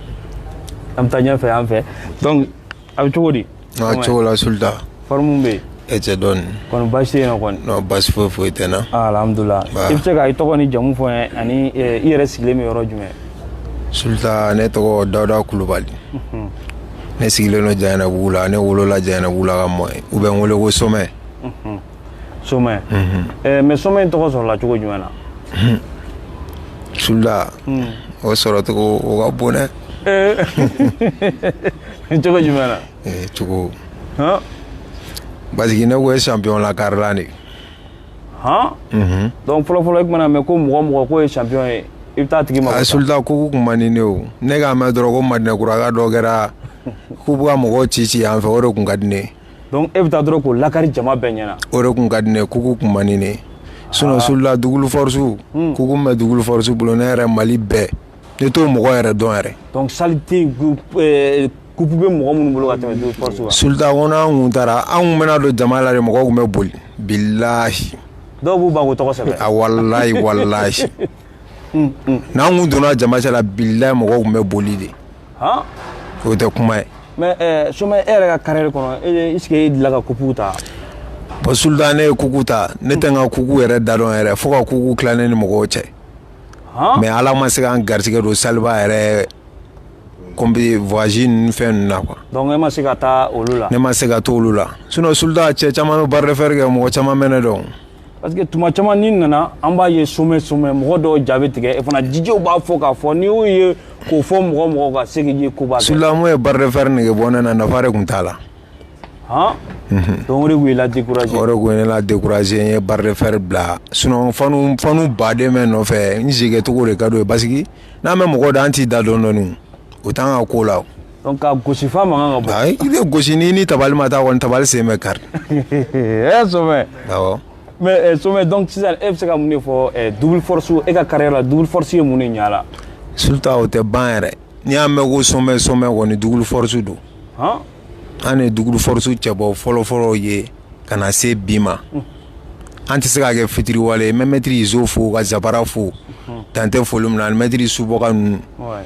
an bɛ taa ɲɛfɛ an fɛ donc a bɛ cogo di Aa cogo la sulita forme bɛ yen cɛ dɔɔnin kɔni basi tɛ yen na basi foyi foyi tɛ n na alhamdulila i bɛ se ka i tɔgɔ ni jamu fɔ n ye ani i yɛrɛ sigilen bɛ yɔrɔ jumɛn sulita ne tɔgɔ dawuda kulubali ne sigilen don jayanabugu la ne wolola jayanabugu la ka mɔ u bɛ n weele ko somɛ somɛ mɛ somɛ in tɔgɔ sɔrɔla cogo jumɛn na sulita o sɔrɔcogo o ka bon dɛ cogo jumɛn na cogo parce que ne kun ye sanpiyɔn lakarila de dɔnku fɔlɔfɔlɔ i tun mana mɛn ko mɔgɔ mɔgɔ kun ye sanpiyɔn ye i bɛ taa tigi ma sulita kupu kun man di ne o ne k'a mɛn dɔrɔn ko madinɛkuraka dɔ kɛra k'u bɛ ka mɔgɔ ci ci yan fɛ o de kun ka di ne dɔnku e bɛ taa dɔrɔn k'o lakari jama bɛɛ ɲɛna o de kun ka di ne kupu kun man di ne sinɔn ah. sulita dugukolo fɔrisi hmm. kupu min bɛ dugukolo fɔrisi bolo ne yɛrɛ mali bɛɛ ne t'o mɔgɔ yɛrɛ dɔn yɛrɛ dɔnku salite eh, kupu bɛ mɔgɔ minnu bolo ka tɛmɛ dugukolo fɔrisi kan sulita ko n'an kun taara an kun bɛna don jama la de mɔgɔw kun bɛ boli bilahi dɔw b'u ban k'u tɔgɔ sɛbɛn a ah, walayi walayi n'an kun donna jama cɛla bilayi mɔgɔw kun bɛ boli de o tɛ kuma ye mais eh, somɛ e yɛrɛ ka carrière kɔnɔ est ce que e delila ka kuku ta bon sultan ne ye kuku ta ne tɛ n ka kuku yɛrɛ da dɔn yɛrɛ fo ka kuku tila ne ni mɔgɔw cɛ mais ala ma se ka n garisigɛ don saliba yɛrɛ komi voyage ninnu fɛn ninnu na quoi donc e ma se ka taa olu la ne ma se ka taa olu la sinon sultan cɛ caman bɛ bras de fer kɛ mɔgɔ caman bɛ ne dɔn parce que tuma caman n'i nana an b'a ye somɛ somɛ mɔgɔ dɔw ja bɛ tigɛ fana jijiw b'a fɔ k'a fɔ n'i y'o ye k'o fɔ mɔgɔ mɔgɔ ka se k'i ye koba kɛ sultan mun ye bras de fer nege bɔ ne na nafa de kun t'a la han donc o de tun y'i la décourager o de kun ye ne la décourager n ye bras de fer bila sinon fanu fanu ba de bɛ n nɔfɛ n jeu kɛcogo de ka d'o ye parce que n'an bɛ mɔgɔ da an t'i da dɔɔni dɔɔni o t'an ka ko la donc ka gosi f'a mankan ka bɔ ayi i bɛ gosi n'i ni tabali ma taa kɔni tabali sen bɛ kari ɛ somɛ awɔ mais eh, somɛ donc sisan e bɛ se ka mun de fɔ eh, double force e ka carrière la double force ye mun de ɲa la sultan o tɛ ban yɛrɛ n'i y'a mɛn ko somɛ somɛ kɔni double force don han an ye double force cɛbɔ fɔlɔfɔlɔ ye ka na se bi ma an tɛ se ka kɛ fitiriwale ye n bɛ mɛtiri izo fo ka zabara fo dan tɛ foli min na ani mɛtiri subɔka ninnu ouais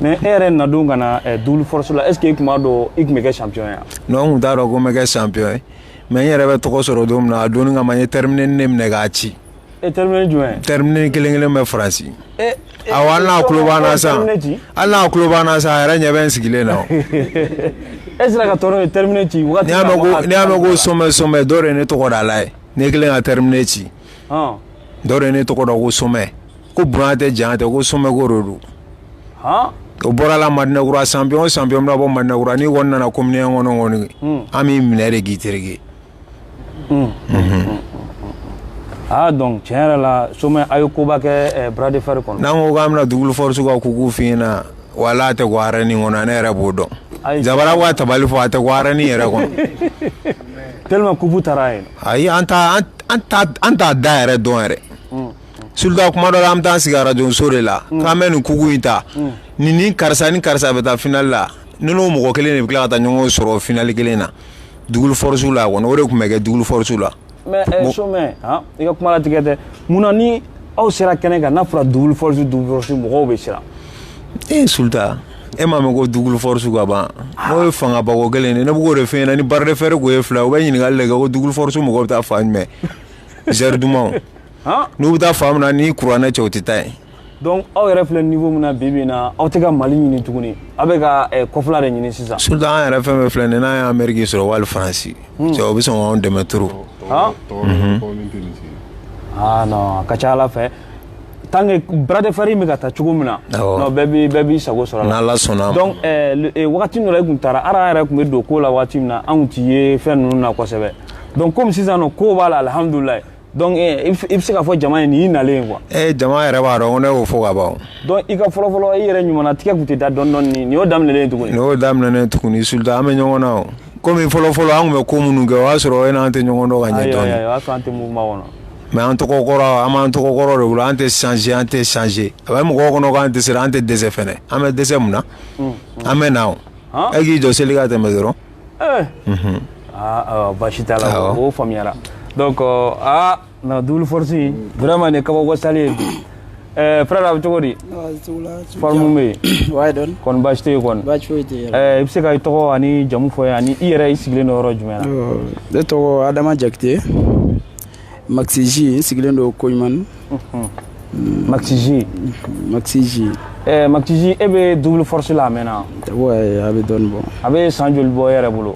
mais e yɛrɛ nadon ka na eh, double force la est ce que i tun b'a dɔn i tun bɛ kɛ champion ye non n kun t'a dɔn ko n bɛ kɛ champion ye mais n yɛrɛ bɛ tɔgɔ sɔrɔ don min na a donni kama n ye terminé ne minɛ k'a ci e terminé jumɛn terminé kelen kelen bɛ faransi e, e, awɔ hali n'a tulo b'an na san hali n'a tulo b'an na san a yɛrɛ ɲɛ bɛ n sigilen na e sera ka tɔɔrɔ ye terminé ci wagati n'i y'a mɛn ko somɛ somɛ dɔ de ye ne tɔgɔdala ye ne kelen ka terminé ci dɔ de ye ne tɔgɔ da ko somɛ ko bonya tɛ janya tɛ ko somɛ ko de don o bɔra la madinɛkura champion champion bɛ bɔ madinɛkura n'i kɔni nana commune kɔnɔ an b'i minɛ de k'i tereke aa donc tiɲɛ yɛrɛ la somɛ a ye koba kɛ bras de fer kɔnɔ n'an ko k'an bɛna double force ka kuku f'i ɲɛna wala a tɛ kun arène kɔnɔ ne yɛrɛ b'o dɔn zabara b'a tabali fɔ a tɛ kun arène yɛrɛ kɔnɔ tellement kupu taara yen ayi an t'a an t'a da yɛrɛ dɔn yɛrɛ sultan kuma dɔ la an taa sigi radio so de la k'an bɛ nin kuku in ta ni ni karisa ni karisa bɛ taa finali la n'o mɔgɔ kelen de bɛ tila ka taa ɲɔgɔn sɔrɔ finali kelen na double force la kɔni o de tun bɛ kɛ double force la mais i ka kuma tigɛ tɛ munna ni aw sera kɛnɛ kan n'a fɔra double force double force mɔgɔw bɛ siran e ye sultan e m'a mɛn ko double force ka ban o ye fangabako kelen de ye ne bɛ k'o de f'i ɲɛna ni bras de fer tun ye fila ye u bɛ ɲininkali de kɛ ko double force mɔgɔw bɛ taa fan jumɛn zɛri dumanw n'u bɛ taa fan min na ni kuranɛ cɛ u tɛ taa yen donc aw yɛrɛ filɛ niveau min na bi bi in na aw tɛ ka mali ɲini tuguni aw bɛ ka eh, kɔfɛla de ɲini sisan sultan an yɛrɛ fɛn fɛn filɛ nin n'an ye ameriki sɔrɔ wali faransi cɛ o bɛ sɔn k'anw dɛmɛ trop ah non a ka ca ala fɛ tant que bras de fer in bɛ ka taa cogo min na non bɛɛ b'i bɛɛ b'i sago sɔrɔ a la n'Ala sɔnna a ma donc wagati dɔ la i tun taara ara yɛrɛ tun bɛ don ko la wagati min na anw t'i ye fɛn ninnu na kosɛbɛ donc komi sisan nɔ ko b'a la alihamudulilayi donc i bɛ se k'a fɔ jama ye nin y'i nalen ye quoi ee jama yɛrɛ b'a dɔn ko ne y'o fɔ ka ban donc i ka fɔlɔfɔlɔ i yɛrɛ ɲumanna tigɛ tun tɛ da dɔɔni dɔɔni nin y'o daminɛlen ye tuguni nin y'o daminɛlen ye tuguni sultan an bɛ ɲɔgɔn na o komi fɔlɔfɔlɔ an tun bɛ ko minnu kɛ o y'a sɔrɔ e n'an tɛ ɲɔgɔn dɔn ka ɲɛ dɔɔni ayi ayi o y'a sɔrɔ an tɛ mouvement kɔnɔ mais an tɔgɔ kɔrɔ an b'an tɔgɔ kɔrɔ de bolo an tɛ changer an tɛ changer a bɛ mɔgɔw kɔnɔ ko an dɛsɛra an tɛ dɛsɛ fana an bɛ dɛsɛ mun na an bɛ na o e k'i jɔ seli ka tɛmɛ dɔrɔn baasi t'a la o faamuyara donc aa na double force vraiment ne kabako sa Eh, frère a bɛ cogo di forme bɛ yen kɔni baasi tɛ yen kɔni i bɛ se ka i tɔgɔ ani jamu fɔ an ye ani i yɛrɛ i sigilen don yɔrɔ jumɛn na ne tɔgɔ adama jakite maxi j n sigilen don koɲumani maxi j maxi j maxi j e bɛ double force la a mɛnna ouais a bɛ dɔɔnin bɔ a bɛ san joli bɔ e yɛrɛ bolo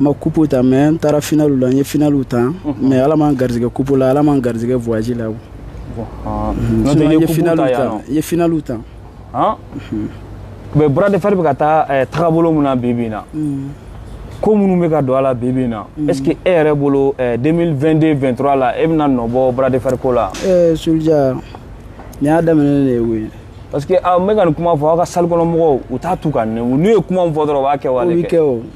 n ma coupe ta mais n taara finalu la n ye finalu ta mhm. mais ala m'an garijɛgɛ coupe la ala m'an garijɛgɛ voyage la ah. mhm. n ye finalu ta n ye finalu ta ah. mhm. mais bras de fer bɛ ka taa eh, tagabolo min na bi bi in na ko minnu bɛ ka don a la bi bi in na est ce que e yɛrɛ bolo 2022 eh, 23 la e bɛna nɔ bɔ bras de fer ko la eh, soldiya nin y'a daminɛ de ye koyi parce que n ah, bɛ ka nin kuma fɔ aw ka salle kɔnɔ mɔgɔw u t'a tu ka nɛmu n'u ye kuma min fɔ dɔrɔn u b'a kɛwale kɛ o bɛ kɛ o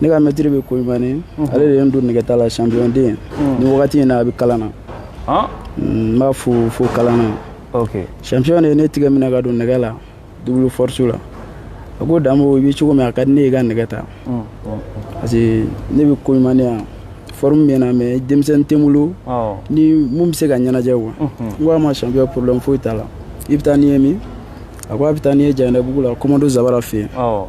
ne ka maître bɛ koɲumani mhm. ale de ye n don nɛgɛta la champion den mhm. nin wagati in na a bɛ kalan na ah. mm, n b'a fo fo kalan na champion de ye ne tigɛ minɛ ka don nɛgɛ la double force la a ko damo i bɛ cogo min a ka di ne ye i ka nɛgɛ ta mm, mm, parce que ne bɛ koɲumani yan forme bɛ n na mais denmisɛnnin tɛ n bolo oh. ni min bɛ se ka ɲɛnajɛ quoi mhm. n ko a ma champion problème foyi t'a la i bɛ taa ni n ye min a ko a bɛ taa ni n ye janɛbugu la commando zabara fɛ yen oh.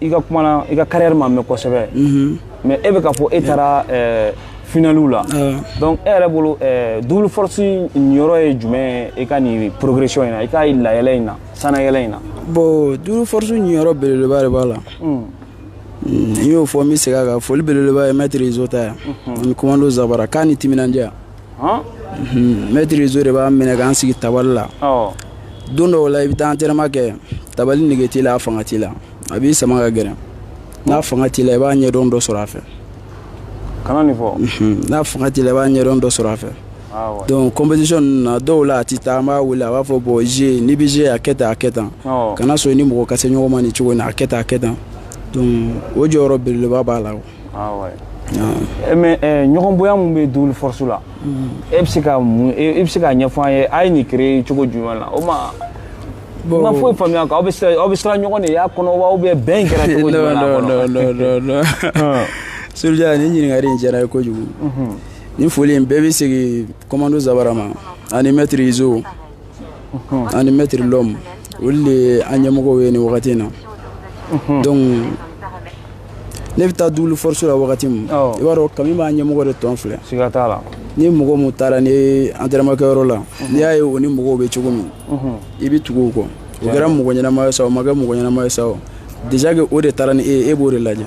i ka kuma na i ka carrière ma mɛn kosɛbɛ mhm. mais e bɛ ka fɔ e taara eh, finaliw la ah. donc e yɛrɛ bolo eh, double force niyɔrɔ ye jumɛn ye i ka nin progression in na i ka layɛlɛ in na sanayɛlɛ in na bon double force niyɔrɔ belebeleba de b'a la hmm. Hmm, n y'o fɔ n bɛ segin a kan foli belebeleba ye maître rizo ta yan ani commando zabara k'a ni timinandiya Maître rizo de b'an minɛ k'an sigi tabali la don dɔw la i bɛ taa entraînement kɛ tabali nege t'i la a fanga t'i la a b'i sama ka gɛrɛ n'a fanga t'i la i b'a ɲɛdɔn dɔ sɔrɔ a fɛ n'a fanga t'i la i b'a ɲɛdɔn dɔ sɔrɔ a fɛ donc compétition ninnu na dɔw la a tɛ taa an b'a wele a b'a fɔ bon j n'i bɛ j a kɛ a kɛ tan kana sɔn i ni mɔgɔ ka se ɲɔgɔn ma nin cogo a kɛ a kɛ tan o jɔyɔrɔ yɔrɔ belebeleba b'a la Ah ouais. Eh, mais eh, ɲɔgɔn bonya mun bɛ double force la mm. e bɛ se ka mun e, e bɛ se k'a ɲɛfɔ an ye a ye nin créer cogo jumɛn la o ma n ma foyi faamuya quoi aw bɛ siran aw bɛ siran ɲɔgɔn de y'a kɔnɔ wa ou bien bɛn kɛra cogo jumɛn la a kɔnɔ. non non non non ah. Soulja nin ɲininkali in diyara n ye kojugu mhm. nin foli in bɛɛ bɛ segin commando Zabara ma ani maître Izo. ani maître Lom olu de ye an ɲɛmɔgɔw ye nin wagati in na donc ne bɛ taa double force la wagati min i b'a dɔn kami b'a ɲɛmɔgɔ de tɔn filɛ siga t'a la ni mɔgɔ mun taara n'i ye entraînement kɛyɔrɔ la n'i y'a ye o ni mɔgɔw bɛ cogo min i bɛ tugu o kɔ o kɛra mɔgɔ ɲɛnama ye sa o ma kɛ mɔgɔ ɲɛnama ye sa o déjà que o de taara ni e ye e b'o de lajɛ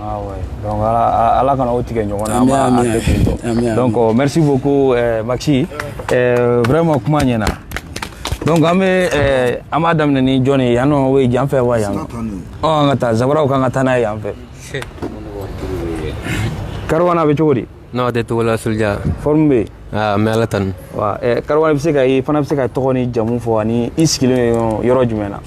ala kana o tigɛ ɲɔgɔn na merci beaucoup eh, maxi eh, vraiment kuma ɲɛna donc an bɛ eh, an b'a daminɛ ni jɔn ye yan nɔ o ye jan fɛ wa yan nɔ an ka taa zabaraw kan ka taa n'a ye yan fɛ karawan a bɛ cogo di n'aw tɛ togo la Soulja forme bɛ an bɛ ala tanu wa karawan bɛ se ka e fana bɛ se ka tɔgɔ ni jamu fɔ ani i sigilen yɔrɔ jumɛn na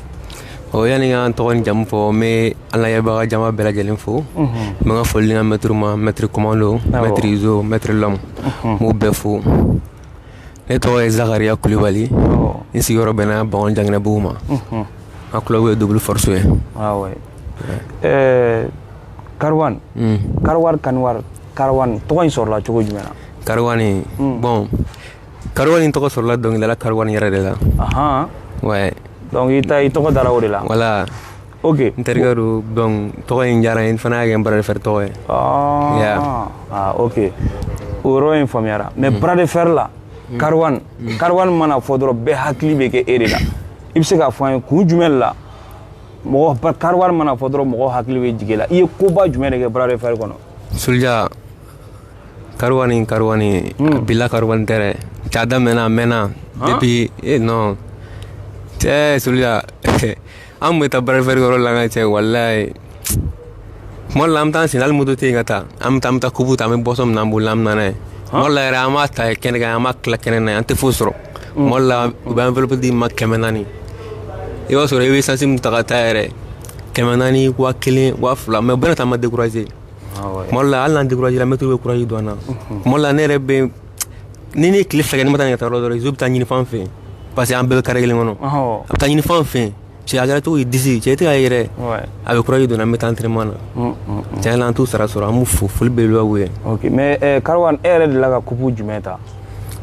o yanni n ka tɔgɔ ni jamu fɔ n bɛ an lajɛbaga jama bɛɛ lajɛlen fo n bɛ n ka foli n ka maître ma maître commando maître Izo maître Lom n b'u bɛɛ fo ne tɔgɔ ye zakariya kulibali n sigiyɔrɔ bɛnna bankoni janginɛbugu ma n ka club ye double force ye karawan hmm. karawani karawani karawani tɔgɔ in sɔrɔla cogo jumɛn na karawani hmm. bon karawani tɔgɔ sɔrɔla dɔnkilidala karawani yɛrɛ de la ouais donc i ta i tɔgɔ dara o de la voilà ok n terikɛ don donc tɔgɔ in diyara n ye n fana y'a kɛ n bras de fer tɔgɔ ye ah, ah ok o yɔrɔ in faamuyara mais hmm. bras de fer la karawani karawani mana fɔ dɔrɔn bɛɛ hakili bɛ kɛ e de la i bɛ se k'a fɔ an ye kun jumɛn la mɔgɔ karawani mana fɔ dɔrɔn mɔgɔ hakili bɛ jigin i la i ye koba jumɛn de kɛ bras de fer kɔnɔ Soulja karawani karawani hmm. bi la karawani tɛ dɛ cɛ a daminɛna a mɛnna depuis e non cɛ Soulja an tun bɛ taa bras de fer yɔrɔ la n ka cɛ walayi tuma dɔ la an bɛ taa an sen hali moto tɛ yen ka taa an bɛ taa an bɛ taa coupe ta an bɛ boisson min na an bolo an bɛ na n'a ye tuma dɔ la yɛrɛ an b'a ta kɛnɛ kan an b'a tila kɛnɛ na an tɛ foyi sɔrɔ tuma dɔ la u bɛ enveloppe d'i ma kɛmɛ naani i b'a sɔrɔ i bɛ sansi min ta ka taa yɛrɛ kɛmɛ naani waa kelen waa fila mais bɛɛ n'a ta an ma découragé tuma dɔ la hali n'an découragé la maître bɛ courage don an na tuma dɔ la ne yɛrɛ bɛ ni ne ye tile fila kɛ ne ma taa nin ka taa yɔrɔ dɔrɔn Izo bɛ taa ɲini fan fɛ parce que an bɛɛ bɛ carré kelen kɔnɔ a bɛ taa ɲini fan fɛ cɛ a kɛra cogo di disi cɛ tɛ ka yɛrɛ Ouais. a bɛ courage don an na an bɛ taa entraînement na Mm, mm. tiɲɛ na an t'u sara sɔrɔ an b'u fo foli belebeleba b'u ye ok mais eh, karwan e yɛrɛ delila ka coupe jumɛn ta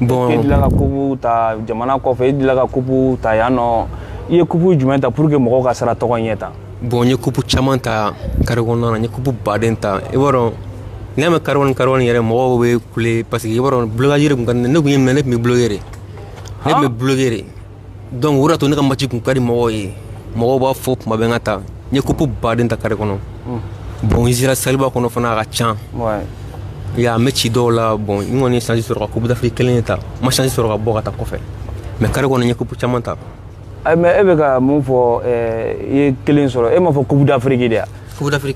bon e delila ka coupe ta jamana kɔfɛ e delila ka coupe ta yan nɔ i ye coupe jumɛn ta pour que mɔgɔw ka sara tɔgɔ ɲɛ ta bon n ye coupe caman ta carré kɔnɔna na n ye coupe baden ta i b'a dɔn n'i y'a mɛn karwan karwan yɛrɛ mɔgɔw bɛ kule parce que i b'a dɔn blocage de tun ka di ne ne tun y'i minɛ ne tun bɛ bloquer de ne tun bɛ bloquer de donc o de y'a to ne ka match tun ka di mɔgɔw ye mɔgɔw b'a fɔ tuma bɛɛ n ka taa n ye coupe baden ta carré kɔnɔ hmm. bon n sera salle ba kɔnɔ fana a ka ca ya match dɔw la bon n kɔni ye chance sɔrɔ ka coupe d'afrique kelen de ta n ma chance sɔrɔ ka bɔ ka taa kɔfɛ mais carré kɔnɔ n ye coupe caman ta eh, mais e bɛ ka mun fɔ eh, i ye kelen sɔrɔ e m'a fɔ coupe d'afrique de wa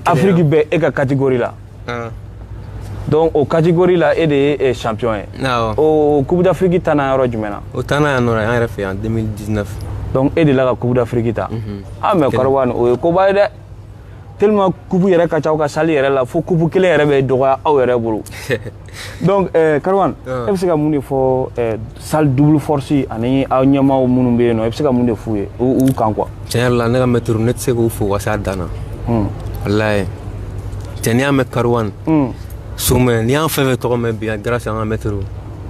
afrique bɛɛ e ka catégorie la ah. donc o catégorie la e de ye eh, champion ye ah, oh. o coupe d'afrique ta na yɔrɔ jumɛn na o ta na yan nɔ an yɛrɛ fɛ yan 2019 donc e delila ka coupe d'afrique ta mhm. ah mais Karwan o ye koba ye dɛ tellement coupe yɛrɛ ka ca aw ka salle yɛrɛ la fo coupe kelen yɛrɛ bɛ dɔgɔya aw yɛrɛ bolo donc eh, Karwan ah. e bɛ se ka mun de fɔ eh, salle double force ani aw ɲɛmaaw minnu bɛ yen nɔ e bɛ se ka mun de f'u ye u kan quoi. tiɲɛ yɛrɛ la ne ka mɛtiriw ne tɛ se k'u fo ka se a dan na. Hmm. walayi cɛ n'i y'a mɛn Karwan. Hmm. somɛ n'i y'an fɛn fɛn tɔgɔ mɛn bi yan grâce an ka mɛtiriw.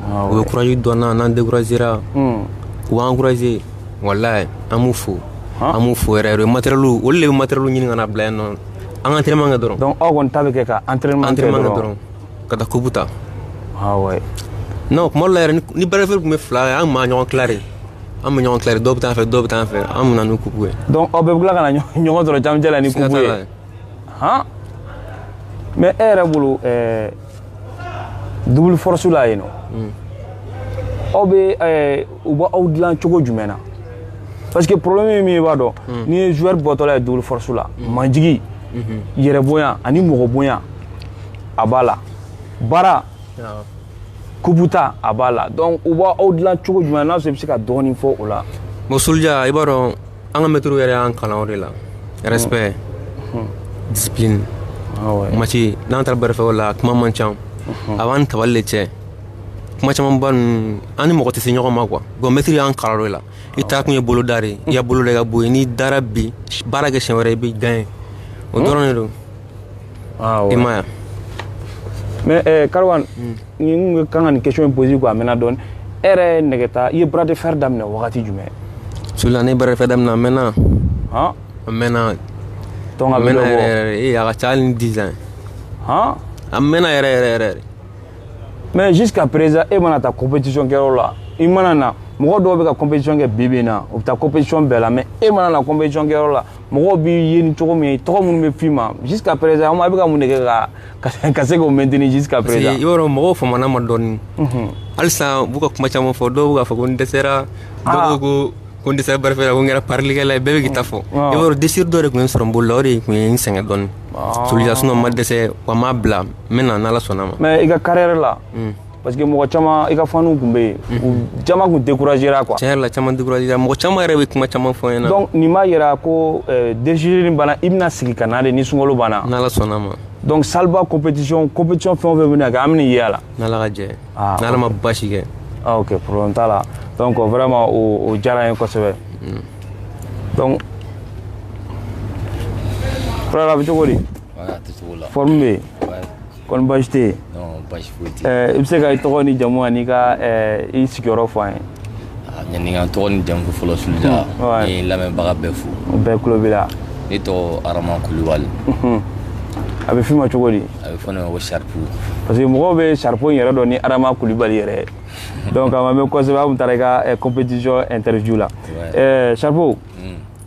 Ah, u bɛ courage don an na n'an découragera. Hmm. u b'an encourager walayi an b'u fo. an b'u fo yɛrɛ yɛrɛ matériel olu de bɛ matériel ɲini ka na bila yan nɔ an ka entraînement kɛ dɔrɔn. donc aw kɔni ta bɛ kɛ ka entraînement kɛ dɔrɔn. ka taa coupe ta non tuma dɔ la yɛrɛ ni bras de fer tun bɛ fila ye an tun bɛ ɲɔgɔn tila de an bɛ ɲɔgɔn tila dɔw bɛ taa yan fɛ dɔw bɛ taa yan fɛ an bɛ na ni coupe ye donc aw bɛɛ bɛ tila ka na ɲɔgɔn sɔrɔ camancɛ la ni coupe ye han mais e yɛrɛ bolo double force la yen nɔ aw bɛ u bɛ aw dilan cogo jumɛn na parce que problème ye min ye i b'a dɔn n'i ye joueur bɔtɔla ye double force la majigi yɛrɛ bonya ani mɔgɔ bonya a b'a la baara coupe ta a b'a la donc u b'aw dilan cogo jumɛn na sɔrɔ i bɛ se ka dɔɔnin fɔ o la bon soldiya i b'a dɔn an ka mɛtiriw yɛrɛ y'an kalan o de la respect discipline mati n'an taara bras de fer la kuma man ca a b'an tabali de cɛ kuma camanba ninnu an ni mɔgɔ tɛ se ɲɔgɔn ma quoi bon mɛtiri y'an kalan o de la i taa kun ye bolo da de ye i ka bolo da i ka bɔ yen n'i dara bi baara kɛ siɲɛ wɛrɛ i bɛ gagner o dɔrɔn de don i ma ye mais eh, kariwan hmm. ni kan ka nin question in poser quoi a mɛnna dɔɔni e yɛrɛ ye nɛgɛta i ye bras de fer daminɛ wagati jumɛn sulija ne ye bras de fer daminɛ a mɛnna a mɛnna donc a mɛnna yɛrɛ yɛrɛ ee a ka ca hali ni 10 ans han a mɛnna yɛrɛ yɛrɛ yɛrɛ de mais jusqu'à présent e mana taa compétition kɛyɔrɔ la i mana na mɔgɔ dɔw bɛ ka compétition kɛ bi bi in na u bɛ taa compétition bɛɛ la mais e mana na compétition kɛyɔrɔ la mɔgɔw b'i ye ni cogo min ye tɔgɔ minnu bɛ f'i ma jusqu'à présent an bɛ ka mun de kɛ ka ka se k'o maintenir jusqu'à présent parce que i b'a dɔn mɔgɔw famana n ma dɔɔni mhm. halisa u b'u ka kuma caman fɔ dɔw bɛ k'a fɔ ko n dɛsɛra dɔw ah. ko ko n dɛsɛra bras de fer la ko n kɛra parilikɛla ye bɛɛ bɛ k'i ta fɔ i b'a dɔn déchirure dɔ de tun ye n sɔrɔ n bolo la o de tun ye n sɛgɛn dɔɔni ah. sulija sinon n ma dɛsɛ wa n m'a bila n bɛ na n'ala sɔnna ma mais i ka carrière la hmm. parce que mɔgɔ caman i ka faniw tun bɛ yen u caman tun découragera quoi tiɲɛ yɛrɛ la caman découragera mɔgɔ caman yɛrɛ bɛ kuma caman fɔ n ɲɛna donc nin b'a yira ko euh, déchirure in banna i bɛna sigi ka na de ni sunkalo banna n'ala sɔnna ma donc salba compétition compétition fɛn o fɛn bɛna kɛ an bɛna ye a la n'ala ka jɛ ah, n'ala ma basi kɛ ah, ok problème t'a la donc vraiment o o diyara n ye kosɛbɛ mm. donc frère a bɛ cogo di forme bɛ yen kɔni baasi tɛ yen baasi foyi tɛ yen i bɛ se ka i tɔgɔ ni jamu ani ka i sigiyɔrɔ fɔ an ye yanni n ka n tɔgɔ ni jamu fɔlɔ sulija n ye lamɛnbaga bɛɛ fo u bɛɛ tulo b'i la ne tɔgɔ arama kulubali a bɛ f'i ma cogo di a bɛ fɔ ne ma ko saripu parce que mɔgɔw bɛ saripu in yɛrɛ dɔn ni arama kulubali yɛrɛ ye donc a ma mɛn kosɛbɛ an tun taara i ka compétition interview la saripu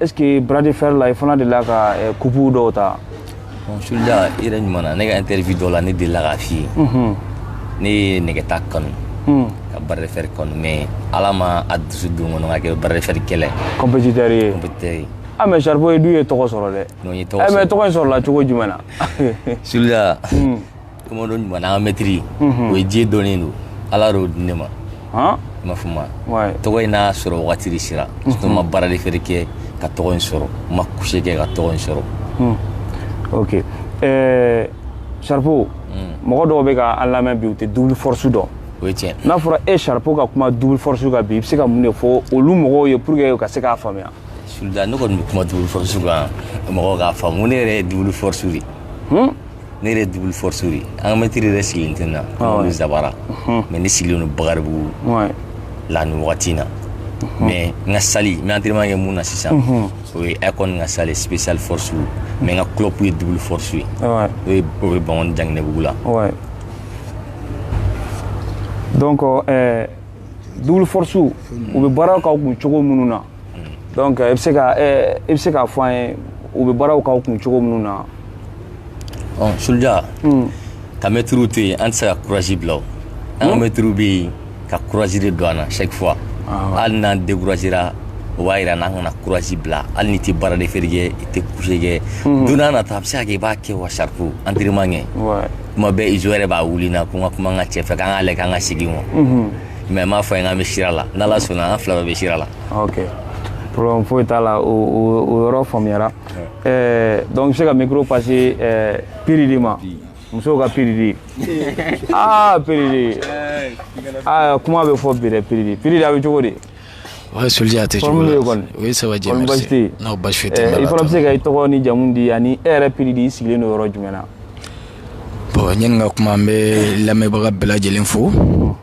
est ce que bras de fer la i fana delila ka eh, coupe dɔw ta bon sulija i yɛrɛ ɲuman na ne ka interview dɔ la ne delila k'a f'i ye mhm. ne ye nɛgɛta kanu hmm. ka bras de fer kanu mais ala ma a dusu don n kɔnɔ ka kɛ bras de fer kɛlɛ compétiteur ye compétiteur ye ah mais saripu i dun ye tɔgɔ sɔrɔ dɛ non n ye tɔgɔ eh, sɔrɔ mais tɔgɔ in sɔrɔla cogo jumɛn na sulija hmm. commando ɲuman an ka mɛtiri o ye diɲɛ dɔnnen don ala y'o di ne ma i ma fɔ ma tɔgɔ in n'a sɔrɔ wagati de sera n ma bras de fer kɛ ka tɔgɔ in sɔrɔ n ma couché kɛ ka tɔgɔ in sɔrɔ ok saripu mɔgɔ dɔw bɛ ka an lamɛn bi u tɛ double force dɔn o ye tiɲɛ n'a fɔra e saripu ka kuma double force kan bi i bɛ se ka mun de fɔ olu mɔgɔw ye pour que u ka se k'a faamuya sulija ne kɔni bɛ kuma double force kan mɔgɔw k'a faamu ne yɛrɛ ye double force de ye ne yɛrɛ double force de an ka mɛtiri yɛrɛ sigilen tɛ na n'olu zabara mais ne sigilen don bakaribugu la nin wagati in na mais n ka salle n bɛ entraînement kɛ min na sisan o ye icon ka salle spécial force mais n ka club ye double force ye o ye o bɛ bankɔni janginɛbugu la donc euh, double force u bɛ baara ka kun cogo minnu na donc i bɛ se ka i bɛ se k'a fɔ an ye u bɛ baaraw k'aw kun cogo minnu na. ɔ suluja. ka mɛtiriw to yen an tɛ se ka kurazi bila o an ka mɛtiriw bɛ yen ka kurazi de don an na chaque fois hali n'an découragera o b'a yira n'an kana kurazi bila hali n'i tɛ bras de fer kɛ i tɛ couche kɛ don n'a nata a bɛ se ka kɛ i b'a kɛ wa sarifu entraînement kɛ tuma bɛɛ izo yɛrɛ b'a wuli n na ko n ka kuma n ka cɛ fɛ k'an k'a lajɛ k'an ka segin wa. mais n b'a fɔ a ye k'an bɛ sira la n'ala sɔnna an fila bɛɛ bɛ sira la ok problème foyi t'a la o yɔrɔ faamuyara eh, donc i bɛ se ka micro passer eh, piridi ma musow ka piridi aa ah, piridi aa ah, kuma bɛ fɔ bi dɛ piridi piridi a bɛ cogo di ouais suluja a tɛ cogo la oui ça va bien merci non basi foyi tɛ eh, i fana bɛ se ka i tɔgɔ ni jamu di ani e yɛrɛ piridi i sigilen don yɔrɔ jumɛn na bon yanni n ka kuma n bɛ lamɛnbaga bɛɛ lajɛlen fo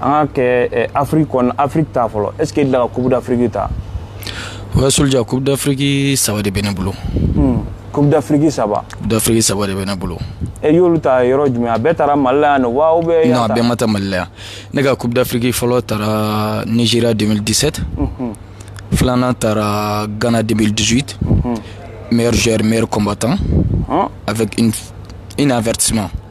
an ka kɛ afrique kɔnɔ afrique ta fɔlɔ est ce que e delila ka coupe d'afrique ta ouais soldier coupe d'afrique saba de bɛ ne bolo hmm. coupe d'afrique saba coupe d'afrique saba de bɛ ne bolo e y'olu ta yɔrɔ jumɛn a bɛɛ tara mali la yan nɔ wa ou bien non a bɛɛ ma ta mali la yan ne ka coupe d'afrique fɔlɔ tara nigeria 2017 mhm. filanan tara ghana 2018 mhm. meilleur joueur meilleur combattant avec une, une avertissement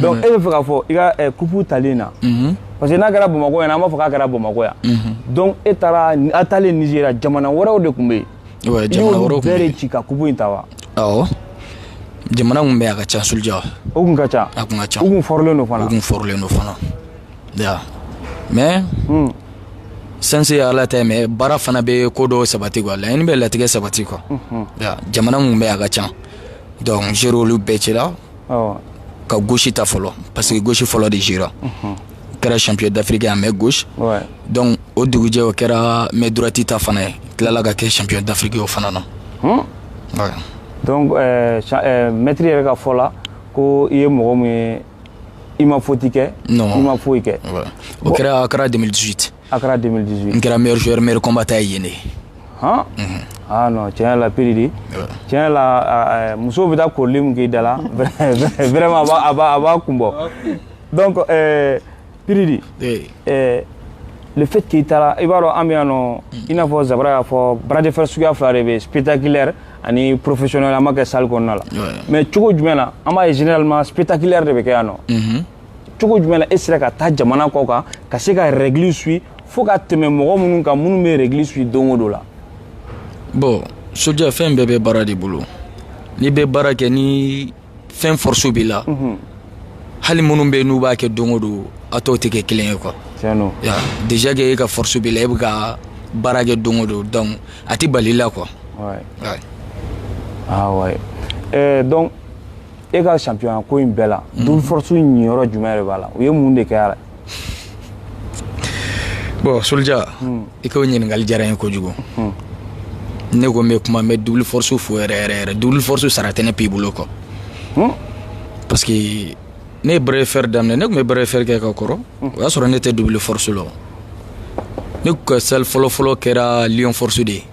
donc e b'a fɛ k'a fɔ i ka eh, kupu talen na mhm. parce que n'a kɛra bamakɔ yan an b'a fɔ k'a kɛra bamakɔ yan mhm. donc e taara a talen nizeriya jamana wɛrɛw de tun bɛ yen i y'olu bɛɛ de ci ka kupu in ta wa awɔ jamana tun bɛ yen a ka ca suluja o tun ka ca a tun ka ca u tun fɔrilen don fana u tun fɔrilen don fana ya mais hmm. chance ye ala ta ye mais baara fana bɛ ko dɔw sabati quoi laɲini bɛ latigɛ sabati quoi mhm. ya jamana tun bɛ yen a ka ca donc zer'olu bɛɛ cira ka gauche ta fɔlɔ parce que gauche fɔlɔ de jouera o kɛra champion d'Afrique à main gauche ouais. donc o dugujɛ o kɛra main droite ta fana ye tilala ka kɛ champion d'Afrique o fana na hmm? ouais. donc euh, euh, maître yɛrɛ ka fɔ la ko i ye mɔgɔ min ye i ma faute kɛ non. i ma foyi kɛ ouais. o kɛra Accra 2018 Accra 2018 n kɛra meilleur joueur meilleur combattant ye yen dɛ han ah non tiɲɛ yɛrɛ la piridi tiɲɛ yɛrɛ la eh, musow bɛ taa korili min k'i da la vraiment a b'a a b'a kun bɔ donc eh, piridi eh, le fait que i taara i b'a dɔn an bɛ yan nɔ i n'a fɔ zabara y'a fɔ bras de fer suguya fila de bɛ spectaculaire ani professionnel an b'a kɛ salle kɔnɔna la mais cogo jumɛn na an b'a ye généralement spectaculaire de bɛ kɛ yan nɔ cogo jumɛn na e sera ka taa jamana kɔ kan ka se ka règle suivre fo ka tɛmɛ mɔgɔ minnu kan minnu bɛ règle suivre don o don la bon soldier fɛn bɛɛ bɛ baara de bolo n'i bɛ baara kɛ ni fɛn force b'i la mhm. hali minnu bɛ yen n'u b'a kɛ don o don a tɔw tɛ kɛ kelen ye quoi déjà que e ka force b'i la e bɛ ka baara kɛ don o don donc a tɛ bali i la quoi. Ouais. Ouais. Ah ouais. Euh, donc e ka champion ko in bɛɛ la mm. double force niyɔrɔ jumɛn de b'a la u ye mun de kɛ a la bon soldier mm. i k'o ɲininkali diyara n ye kojugu mm. ne ko n bɛ kuma n bɛ double force fo yɛrɛ yɛrɛ yɛrɛ double force sara tɛ ne Piridi bolo quoi parce que ne ye bras de fer daminɛ ne tun bɛ bras de fer kɛ ka kɔrɔ o y'a sɔrɔ ne tɛ double force la ne ka salle fɔlɔfɔlɔ kɛra lion force de ye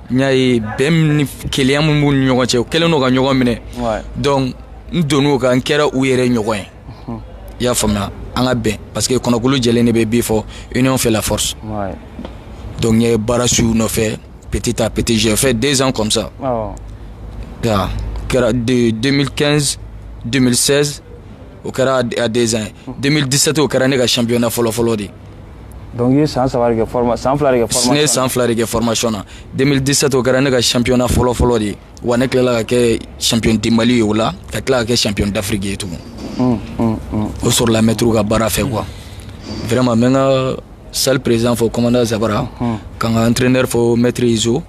n y'a ye bɛn ni kelenya min b'u ni ɲɔgɔn cɛ u kɛlen don ka ɲɔgɔn minɛ donc n donn'o kan n kɛra u yɛrɛ ɲɔgɔn ye i y'a faamuya an ka bɛn parce que kɔnɔ kulu jɛlen de bɛ bii fɔ union fait la force donc n ye baara suivre nɔfɛ petit à petit j'ai fait deux ans comme ça ya kɛra de 2015 2016 o kɛra a deux ans ye 2017 o kɛra ne ka championnat fɔlɔfɔlɔ de ye donc i ye san saba de kɛ forma san fila de kɛ formation ne ye san fila de kɛ formation na 2017 o kɛra ne ka championnat fɔlɔ fɔlɔ de ye wa ne tilala ka kɛ champion du Mali ye o la ka tila ka kɛ champion d'Afrique ye tugun mm, mm, mm. o sɔrɔla mɛtiriw ka baara fɛ quoi vraiment n bɛ n ka salle président fo commandant Zabara ka n ka entraîneur fo maître Izo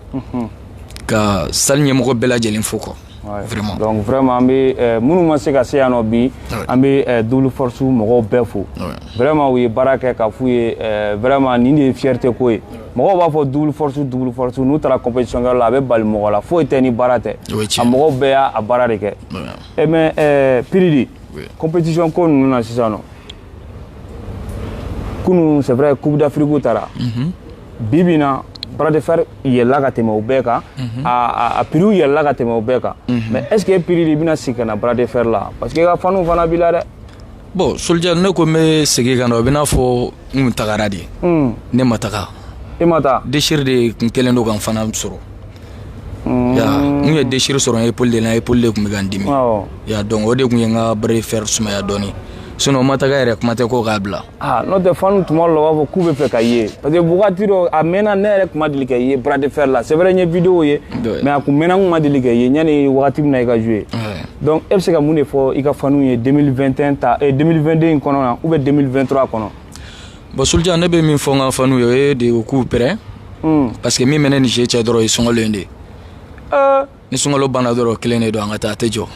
ka salle ɲɛmɔgɔ bɛɛ lajɛlen fo quoi Vma an bɛ minnu ma se ka se yan nɔ bi an bɛ dusu mɔgɔw bɛɛ fo vma u ye baara kɛ ka fɔ ye vma ni ye fite ko ye mɔgɔ b'a fɔsu n'u taara cɛ la a bɛ bali mɔgɔ la foyi tɛ ni baara tɛ a mɔgɔw bɛɛ y'a baara de kɛ e mɛ pdi kopsiɔn ko ninnu na sisan kunun sɛ kubidafiriku taara bi bi in na bras de fer yɛlɛla ka tɛmɛ o bɛɛ kan a prix yɛlɛla ka tɛmɛ o bɛɛ kan mais est ce que Piridi bɛna segin ka na bras de fer la parce que i ka fanw fana b'i la dɛ bon soldier ne ko n bɛ segin ka na o bɛ n'a fɔ n kun tagara de ne ma taga i ma taa déchire de kun kɛlen don ka n fana sɔrɔ ya n ye déchire sɔrɔ n épaule de la épaule de kun bɛ ka n dimi ya donc o de kun ye n ka bras de fer sumaya dɔɔni sinon n ma taga yɛrɛ kuma tɛ ko k'a bila aa n'o tɛ fanw tuma dɔ la u b'a fɔ k'u b'a fɛ k'i ye parce que wagati dɔ a mɛnna ne yɛrɛ tun ma deli k'e ye bras de fer la c'est vrai n ye vidéo ye mais a tun mɛnna n tun ma deli k'e ye yanni wagati min na i ka jouer donc e bɛ se ka mun de fɔ i ka fanw ye 2021 ta eh, 2022 in kɔnɔ na ou bien 2023 kɔnɔ bon soldier ne bɛ min fɔ n ka fanw ye o ye de u k'u prêt hmm. parce que min bɛ ne ni jeu cɛ dɔrɔn o ye sunkalo in de ye euh, ni sunkalo banna dɔrɔn kelen de don an ka taa a tɛ jɔ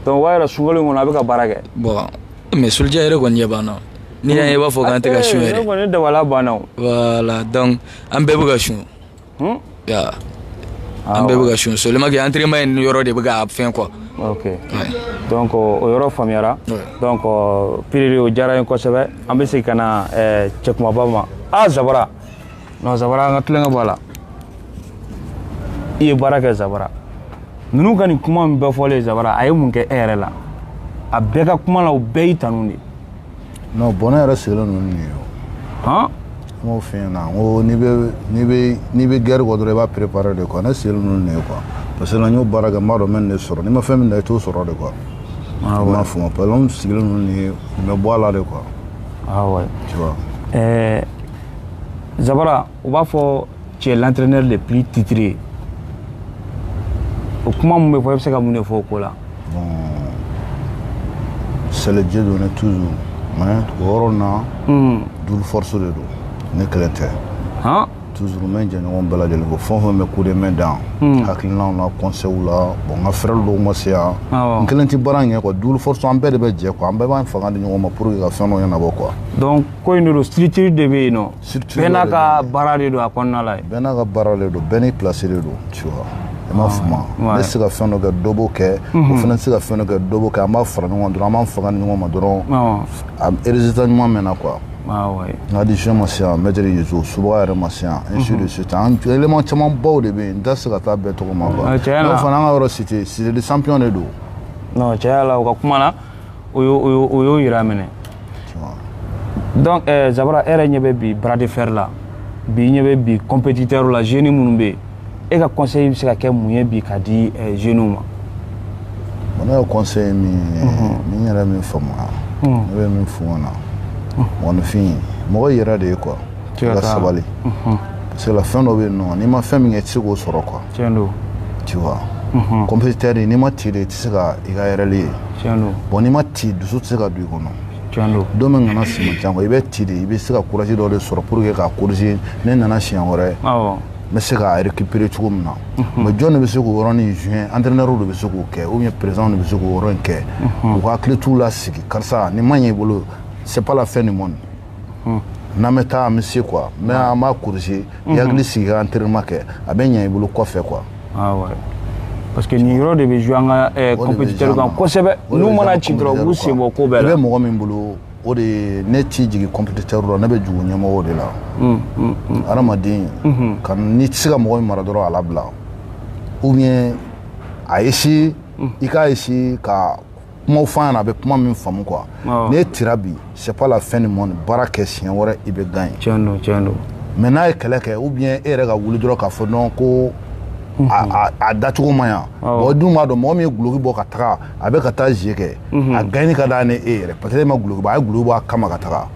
donc o b'a yira sunkalo kɔnɔ a bɛ ka baara kɛ bon mais Soldier yɛrɛ kɔni ɲɛ banna n'i y'an ye i b'a fɔ k'an tɛ ka sun yɛrɛ kɔni dabala banna o voilà donc an bɛɛ bɛ ka sun ya an bɛɛ bɛ ka sun seulement que entraînement in yɔrɔ de bɛ ka fɛn quoi ok donc o yɔrɔ faamuyara donc piriri o diyara n ye kosɛbɛ an bɛ segin ka na cɛkumaba ma a zabara non zabara an ka tulonkɛ bɔ a la i ye baara kɛ zabara ninnu ka nin kuma min bɛɛ fɔlen zabara a ye mun kɛ e yɛrɛ la a bɛɛ ka kuma la u bɛɛ y'i tanu de non bon ne yɛrɛ sigilen ninnu nin ye o han n b'o f'i ɲɛna n ko n'i bɛ n'i bɛ n'i bɛ guerre kɔ dɔrɔn i b'a préparer de quoi ne sigilen ninnu nin ye quoi parce que n y'o baara kɛ n b'a dɔn n bɛ nin de sɔrɔ n'i ma fɛn min dan i t'o sɔrɔ de quoi ah i m'a faamu parce que n sigilen ninnu nin ye nin bɛ bɔ a la de quoi ah ouais tu vois ɛɛ Jabara u b'a fɔ cɛ latrɛnɛ de p titiri o kuma min bɛ fɔ i bɛ se ka mun de fɔ o ko la selijɛ don ne tu o na duuruoroso de don ne kɛlɛ tɛ tu bɛ jɛɲɔgɔn bɛɛ lajɛlen ko fɔ bɛ ko de mɛn dan hakili n' na kɔsow la bon n ka fɛɛrɛ don ma se yan n kelen tɛ baara in kɛ duuruoroso an bɛɛ de bɛ jɛ kuwa an bɛɛ b'an fanga di ɲɔgɔn ma pur ka fɛn ɲɛna nabɔ kuwa ko in de don structure de bɛ yen nɔ bɛɛ n'a ka baara de don a kɔnɔna la bɛɛ n'a ka baara de don bɛɛ n'i place de don tu vois i m'a faamu ne tɛ se ka fɛn dɔ kɛ dɔ b'o kɛ o fana tɛ se ka fɛn dɔ kɛ dɔ b'o kɛ an b'a fara ɲɔgɔn dɔrɔn an b'an fanga di ɲɔgɔn ma dɔrɔn a résultat ɲuman bɛ na quoi n ka adjoint ma se yan maître yezu subaga yɛrɛ ma se yan ainsi de suite an élément caman baw de bɛ yen n tɛ se ka taa bɛɛ tɔgɔ ma quoi n'o fana an ka yɔrɔ cité cité des champions de don non tiɲɛ la o ka kuma na o y'o- o y'o- o y'o yira minɛ donc eh, zabara e yɛrɛ ɲɛ bɛ bi bras de fer la bi i ɲɛ bɛ bi compétiteur la jeune minnu bɛ yen e ka conseil bɛ se ka kɛ mun ye bi ka di eh, jeune ma Bon, ne ka conseil min ye ni n yɛrɛ min faamuya ne bɛ min f'u ɲɛna mɔgɔninfin mɔgɔ yɛrɛ de ye quoi Siga i ka t'a la. sabali parce que là fɛn dɔ bɛ yen nɔ n'i ma fɛn min kɛ i tɛ se k'o sɔrɔ quoi tiɲɛ don tu vois Mhm. compétiteur n'i ma ti de i tɛ se ka i ka erreur ye tiɲɛ don bon n'i ma ti dusu tɛ se ka don i kɔnɔ tiɲɛ don don min kana si man ca quoi i bɛ ti de i bɛ se ka courage dɔ de sɔrɔ pour que k'a corriger ne nana siɲɛ wɛrɛ awɔ n bɛ se k'a récupérer cogo min na mais jɔn de bɛ se k'o yɔrɔnin jouer entraîneur de bɛ se k'o kɛ ou bien président de bɛ se k'o yɔrɔ in kɛ u ka hakili t'u la sigi karisa nin ma ɲɛ i bolo c'est pas la fin du monde hmm. n'an bɛ taa an bɛ se quoi mais an b'a corriger i hakili sigi ka entraînement kɛ a bɛ ɲɛ i bolo kɔfɛ quoi ah parce que nin yɔrɔ de bɛ jouer an ka eh, compétiteur kan kosɛbɛ n'u mana ci dɔrɔn u b'u sen bɔ ko bɛɛ la i bɛ mɔgɔ min bolo o de ne tɛ jigin compétiteur la ne bɛ jigin ɲɛmɔgɔw de la hmm, hmm, hmm. hadamaden ka n'i tɛ se ka mɔgɔ min mara dɔrɔn a labila ou bien a essayer i k'a essayer ka kumaw fɔ a ɲɛna a bɛ kuma min faamu quoi n'e tira bi c'est pas la fin du monde baara kɛ siɲɛ wɛrɛ i bɛ gagner tiɲɛ don tiɲɛ don mais n'a ye kɛlɛ kɛ ou bien e yɛrɛ ka wuli dɔrɔn k'a fɔ non ko a dacogo ma ɲa bon dun b'a dɔn mɔgɔ min ye guloki bɔ ka taga a bɛ ka taa jeu kɛ a gagner ka d'a ni e yɛrɛ parce que e ma guloki bɔ a ye guloki bɔ a kama ka taga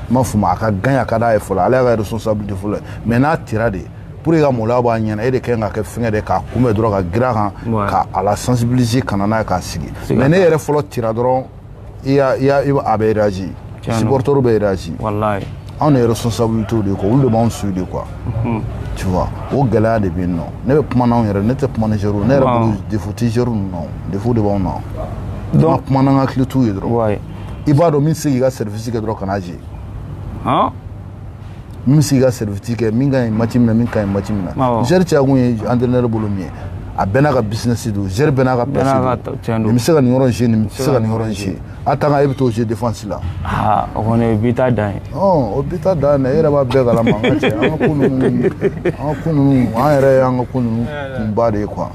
i m'a faamu a ka gagner a ka d'a ye fɔlɔ ale y'a ka responsabilité fɔlɔ ye mais n'a tira de pour que ka maloya b'a ɲɛna e de kan ka kɛ fɛngɛ de k'a kunbɛn dɔrɔn ka girin a kan ka a la sensibiliser ka na n'a ye k'a sigi mais n'e yɛrɛ fɔlɔ tira dɔrɔn i y'a i y'a a bɛ réagir supporter bɛ réagir wallahi anw de responsabilité de quoi olu de b'anw su de quoi mhm. tu vois o gɛlɛya de bɛ yen non ne bɛ kuma n'anw yɛrɛ ne tɛ kuma ni joueurw ne yɛrɛ bolo défaut tɛ joueurw ninnu na défaut de b'anw na donc kuma n'an ka hakili t'u ye dɔrɔn i b'a dɔn min tɛ se k'i ka service kɛ dɔrɔn kana jɛ min bɛ se ka service kɛ min ka ɲi match min na min ka ɲi match min na joueur caya kun ye entraîneur bolo min ye a bɛɛ n'a ka business don joueur bɛɛ n'a ka place don bɛ se ka nin yɔrɔ jouer nin se ka nin yɔrɔ jouer attaquant e bɛ to jouer défense la o kɔni bi dan ye o bi dan e yɛrɛ b'a bɛɛ kalama an ka an ka kun an yɛrɛ an ka kun kunba de ye quoi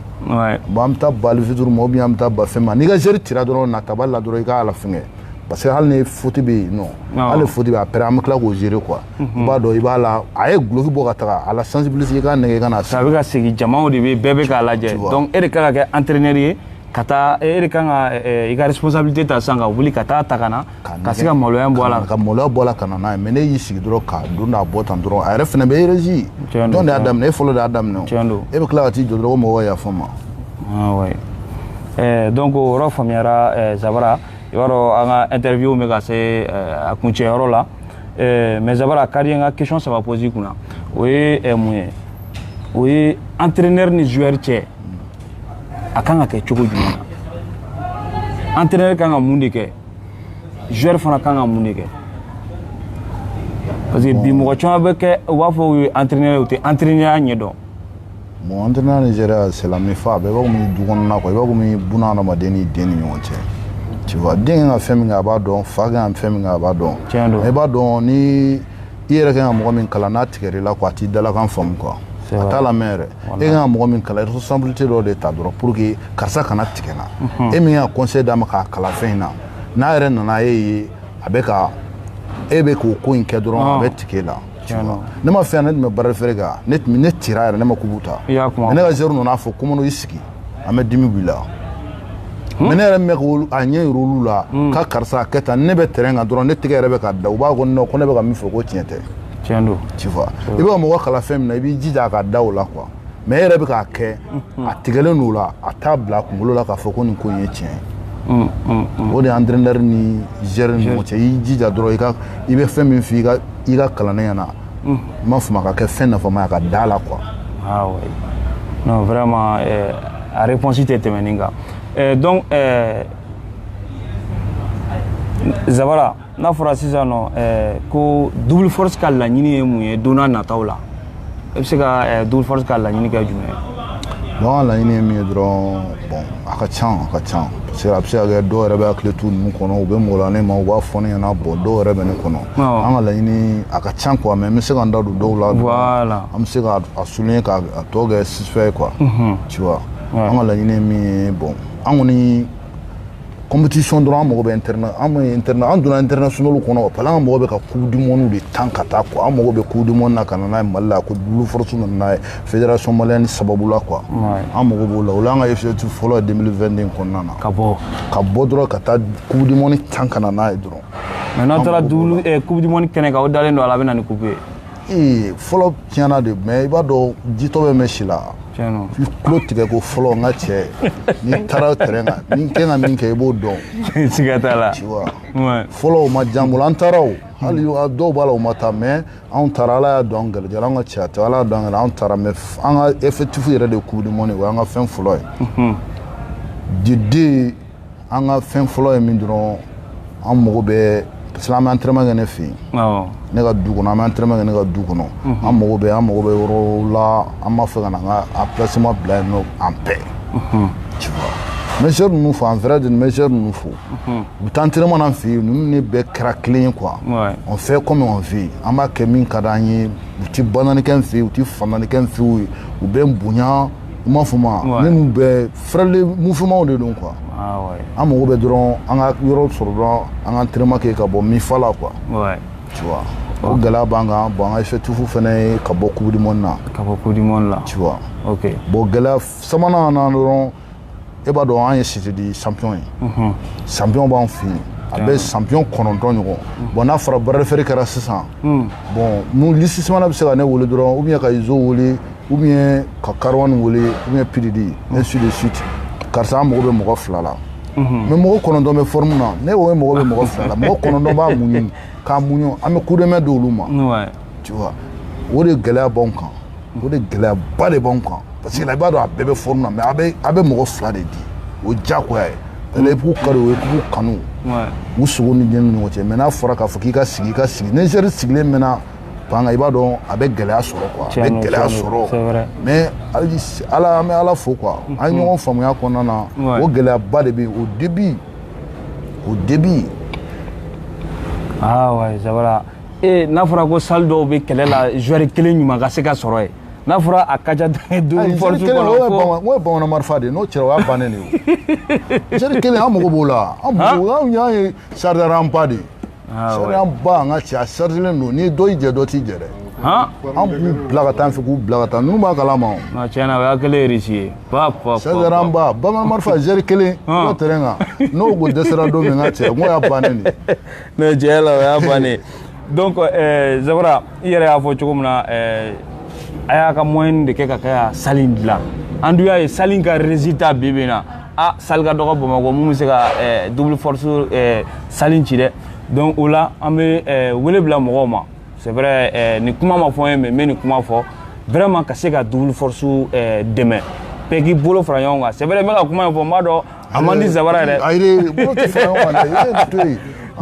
bon an bɛ taa bafituru ma bɛ an bɛ taa ba fɛn ma n'i ka joueur tira dɔrɔn na taba la dɔrɔn i k'a a la fɛngɛ parce que hali ni faute bɛ yen non hali faute bɛ après an bɛ tila k'o gérer quoi i mhm. b'a dɔn i b'a la a ye guloki bɔ ka taga a la sensibiliser i k'a nɛgɛn ka na a bɛ ka segin jamaw de bɛ bɛɛ bɛ k'a lajɛ donc e de kan ka kɛ entraîneur ye ka taa e de kan ka i ka responsabilité ta sisan ka wuli ka t'a ta ka na ka se ka maloya bɔ a la ka maloya bɔ a la ka na n'a ye mais n'e y'i sigi dɔrɔn ka don n'a bɔ tan dɔrɔn a yɛrɛ fana bɛ réagir jɔn de y'a daminɛ e fɔlɔ de y'a daminɛ o e bɛ tila ka t'i jɔ dɔrɔn ko mɔgɔw ka yafa n ma ah donc o yɔrɔ faamuyara Zabara yɔrɔ an ka interview bɛ ka se a kuncɛyɔrɔ la mais Zabara a ka di n ka question saba poser i kunna o ye mun ye o ye entraîneur ni joueur cɛ a kan ka kɛ cogo jumɛn na entraîneur kan ka mun de kɛ joueur fana kan ka mun de kɛ parce que bi mɔgɔ caman bɛ kɛ u b'a fɔ u ye entraîneur u tɛ entraîneurya ɲɛ dɔn Bon antrenɛri ni zɛri c'est la même fa a bɛɛ b'a min du kɔnɔ na quoi i b'a min b adamaden ni den ni ɲɔgɔn cɛ tu vois den ka fɛn min a b'a dɔn fa ka fɛn min a b'a dɔn i b'a dɔn ni i yɛrɛ ka mɔgɔ min kalan n'a tigɛ i la quoi a t'i dalakan faamu quoi a t'a la mɛn yɛrɛ e ka mɔgɔ min kalan i responsabilité dɔ de ta dɔrɔn pour que karisa kana tigɛ na e min ye conseil d'a ma k'a kalan fɛn in na n'a yɛrɛ nana e ye a bɛ ka e bɛ k'o ko in kɛ dɔrɔn a bɛ tigɛ e la ne ma fɛn ne tun bɛ bras de fer kan ne tun ne tira yɛrɛ ne ma coupe ta ne ka zɛri nana fɔ ko mais non i sigi an bɛ dimi b'i la hmm? mais ne yɛrɛ mɛ ko a ɲɛ yira olu la hmm. ka karisa a kɛ tan ne bɛ tɛrɛn kan dɔrɔn ne tɛgɛ yɛrɛ bɛ ka da u b'a kɔnɔ ko ne bɛ ka min fɔ ko tiɲɛ tɛ tiɲɛ don tu vois i bɛ ka mɔgɔ kalan fɛn min na i b'i jija a ka da o la quoi mais e yɛrɛ bɛ k'a kɛ a tigɛlen n'o la a t'a bila a kunkolo la k'a fɔ ko nin ko in ye tiɲɛ ye mm, mm, mm. o de antrenɛri ni zɛri ni ɲɔgɔn cɛ i jija dɔrɔn i ka i bɛ fɛn min f'i ka i ka kalanden ɲɛna n ma fama ka kɛ fɛn nafama ye ka da a la quoi ah non vraiment eh, a réponse tɛ tɛmɛnin kan eh, donc eh, zabara n'a fɔra sisan nɔ eh, ko double force ka laɲini ye mun ye don nataw la e bɛ se ka eh, double force ka laɲini kɛ jumɛn ye bon an ka laɲini ye min ye dɔrɔn bon a ka can a ka can parce que a bɛ se ka kɛ dɔw yɛrɛ bɛ athlète ninnu kɔnɔ u bɛ malo ne ma u b'a fɔ ne ɲɛna bon dɔw yɛrɛ bɛ ne kɔnɔ an ka laɲini a ka can quoi mais n bɛ se ka n da don dɔw la voilà an bɛ se ka a souligner k'a tɔ kɛ sifɛ ye quoi tu vois an ka laɲini ye min ye bon an kɔni compétition dɔrɔn an mago bɛ internet an ma internet an donna international kɔnɔ parce que an mago bɛ ka coupe du monde de tan ka taa quoi an mago bɛ coupe du monde na ka na n'a ye mali la ko double force nana n'a ye fédération malienne sababu la quoi an mago b'o la o la an ka objectif fɔlɔ ye 2022 kɔnɔna na ka bɔ ka bɔ dɔrɔn ka taa coupe du monde tan ka na n'a ye dɔrɔn mais n'aw taara coupe du monde kɛnɛ kan o dalen don a la a bɛ na ni coupe ye ee fɔlɔ tiɲɛ na dɛ mais i b'a dɔn jitɔ bɛ mɛn si la i tulo tigɛ ko fɔlɔ n ka cɛ n'i taara tɛrɛn kan ni kɛ ka min kɛ i b'o dɔn siga t'a la fɔlɔ o ma diya an bolo an taara o hali dɔw b'a la o ma taa mais anw taara ala y'a don an garijɛgɛ la an ka cɛya tɛ ala y'a don an garijɛgɛ la anw taara mais an ka objectif yɛrɛ de coupe du monde o y'an ka fɛn fɔlɔ ye mhm. de den an ka fɛn fɔlɔ ye min dɔrɔn an mago bɛ parce que an bɛ entraînement kɛ ne fɛ yen ne ka du kɔnɔ an bɛ entraînement kɛ ne ka du kɔnɔ mhm. an mago bɛ an mago bɛ yɔrɔ la an b'a fɛ ka na an ka emplacement bila yen nɔ en paix mhm. tu vois monsieur ninnu fo en vrai de monsieur ninnu fo mhm. u bɛ taa entraînement na an fɛ yen ninnu de bɛɛ kɛra kelen ye quoi on fait comme on veut an b'a kɛ min ka d'an ye u tɛ bananikɛ n fɛ yen u tɛ fananikɛ n fɛ yen u bɛ n bonya u m'a fɔ ma minnu bɛ fɛrɛli mouvement de don quoi an mago bɛ dɔrɔn an ka yɔrɔ sɔrɔ dɔrɔn an ka entraînement kɛ ka bɔ mifa la quoi tu vois o gɛlɛya b'an kan bon an ka effectif fana ye ka bɔ coupe du monde na ka bɔ coupe du monde la tu vois ok bon gɛlɛya sabanan na dɔrɔn e b'a dɔn an ye cité de champion ye mhm. champion b'an fɛ yen a bɛ champion kɔnɔntɔn ɲɔgɔn mhm. bon n'a fɔra bras de fer kɛra sisan mhm. bon mun lisisimana bɛ se ka ne wele dɔrɔn ou bien ka izo wele ou bien ka kariwani wele ou bien pididi ainsi de suite karisa an mago bɛ mɔgɔ fila la mhm. mais mɔgɔ kɔnɔntɔn bɛ forme na ne ko mago bɛ mɔgɔ fila la mɔgɔ kɔnɔntɔn b'a muɲu k'a muɲu an bɛ coup de main di olu ma tu vois o de gɛlɛya b'anw kan o de gɛlɛyaba de b'anw kan parce que la i b'a dɔn a bɛɛ bɛ forme na mais a bɛ a bɛ mɔgɔ fila de di o diyagoya ye ale k'u kari o ye k'u kanu u sogo ni diɲɛ ni ɲɔgɔn cɛ mais n'a fɔra k'a fɔ k'i ka sigi i ka sigi ni joueur sigilen mɛnna Banc kan i b'a dɔn a bɛ gɛlɛya sɔrɔ quoi a bɛ gɛlɛya sɔrɔ mais ala an bɛ ala fo quoi an ye ɲɔgɔn faamuya kɔnɔna na o gɛlɛyaba de bɛ au début au début ah ouais n'a fɔra ko salle dɔw bɛ kɛlɛ la joueur kelen ɲuman ka se ka sɔrɔ yen n'a fɔra a ka ca bamanan marifa de n'o cira o y'a bannen de joueur kelen an mago b'o la anw y'an ye chargeur ba de ye chargeur ba n ka cɛ a chargelen don ni dɔ y'i jɛ dɔ t'i jɛ dɛ an b'u bila ka taa an fɛ k'u bila ka taa ninnu b'a kalama tiɲɛ na o y'a kelen réussi ye chargeur ba bamanan marifa joueur kelen n'o terrain kan n'o ko dɛsɛra don min n ka cɛ n'o y'a bannen de ye tiɲɛ la o y'a bannen donc zabara i yɛrɛ y'a fɔ cogo min na a y'a ka moyen de kɛ ka kɛ salle in dilan an dun y'a ye salle in ka résultat bi bi in na a salle ka dɔgɔ bamakɔ mun bɛ se ka eh, double force eh, salle in ci dɛ donc o la an bɛ eh, wele bila mɔgɔw ma c'est vrai nin kuma ma fɔ n ye mais n bɛ nin kuma fɔ vraiment ka se ka double force dɛmɛ bɛɛ k'i bolo fara ɲɔgɔn kan c'est vrai n bɛ ka kuma in fɔ n b'a dɔn a man di zabara yɛrɛ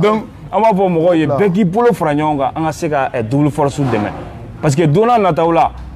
donc an b'a fɔ mɔgɔw ye bɛɛ k'i bolo fara ɲɔgɔn kan an ka se ka double force dɛmɛ parce que don nataw la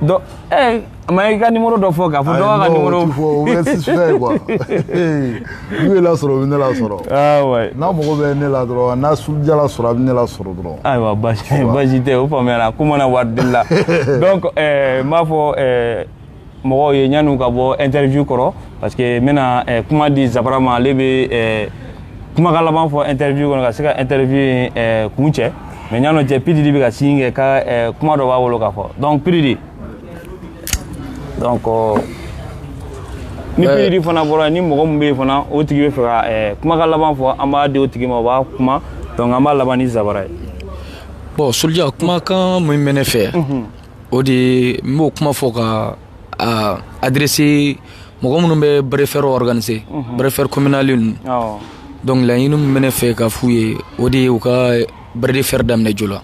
Eh, ma i ka numéro dɔ fɔ k'a fɔ dɔ ka numéro fɔ o bɛ suspect quoi n'u y'e lasɔrɔ u bɛ ne lasɔrɔ ah, n'a mago bɛ ne la dɔrɔn n'a soldier lasɔrɔ a bɛ ne lasɔrɔ dɔrɔn ayiwa basi tɛ o faamuyara ko mana wari deli la donc eh, n b'a fɔ eh, mɔgɔw ye ɲan'u ka bɔ interview kɔrɔ parce que n bɛna eh, kuma di zabara ma ale bɛ eh, kumakan laban fɔ interview kɔnɔ ka se ka interview in eh, kuncɛ mais ɲan'o cɛ pididi bɛ ka signe kɛ ka eh, kuma dɔ b'a bolo k'a fɔ donc pididi donc oh, ni Ouais. pididi fana bɔra yen, ni mɔgɔ min bɛ yen fana o tigi bɛ fɛ ka eh, kumakan laban fɔ an b'a di o tigi ma o b'a kuma donc an b'a laban ni zabara ye bon soldier kumakan min bɛ ne fɛ o de n b'o kuma fɔ ka adrese mɔgɔ minnu bɛ bɛɛ fɛrɛ wgananise bɛɛfɛri kɔminali ninnu dɔnkili ɲini minɛ ne fɛ ka f'u ye o de ye u ka bere fɛrɛ daminɛ jo la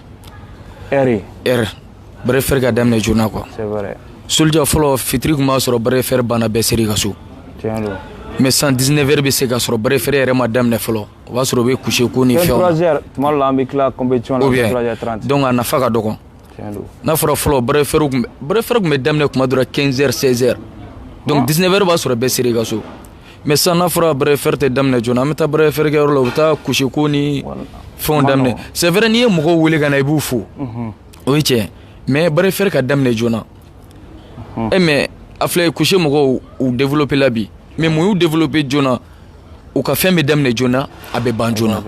bɛɛ fɛrɛɛrɛ ka daminɛ joona qu soja fɔlɔ fitiri tun b'a sɔrɔ bɛɛ fɛrɛɛrɛ banna bɛɛ se ka so mɛ san diinɛ wɛrɛɛrɛ bɛ se ka sɔrɔ bɛɛ fɛrɛɛrɛ yɛrɛ ma daminɛ fɔlɔ o b'a sɔrɔ u bɛ kuse ko ni fɛn dɔn ka nafa ka dɔgɔn N'a fɔra fɔlɔ fɛrɛɛrɛ tun bɛ daminɛ kuma dɔrɔn kɛsɛri sɛri don di wɛrɛ b'a sɔrɔ bɛ se i ka so mɛ san n'a fɔra bɛ fɛrɛɛrɛ tɛ daminɛ jɔ an bɛ taa bɛ fɛrɛɛrɛkɛyɔrɔ la u bɛ taa gosi ko ni fɛn daminɛ sɛ wɛrɛɛrɛ n'i ye mɔgɔw weele ka na i b'u fo o ye cɛ mɛ bɛ fɛrɛɛrɛ ka daminɛ joona na e mais a filɛ couché mɔgɔw u développer la bi mais mun y'u développer joona u ka fɛn bɛ daminɛ joona a bɛ ban joona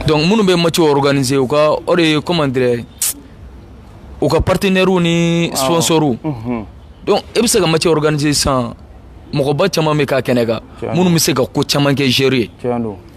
donc minnu bɛ match organiser u ka o de ye comment dire u ka partenaires ni sponsors mhm. donc e bɛ se ka match organiser sisan mɔgɔba caman bɛ k'a kɛnɛ kan minnu bɛ se ka ko caman kɛ joueurs ye.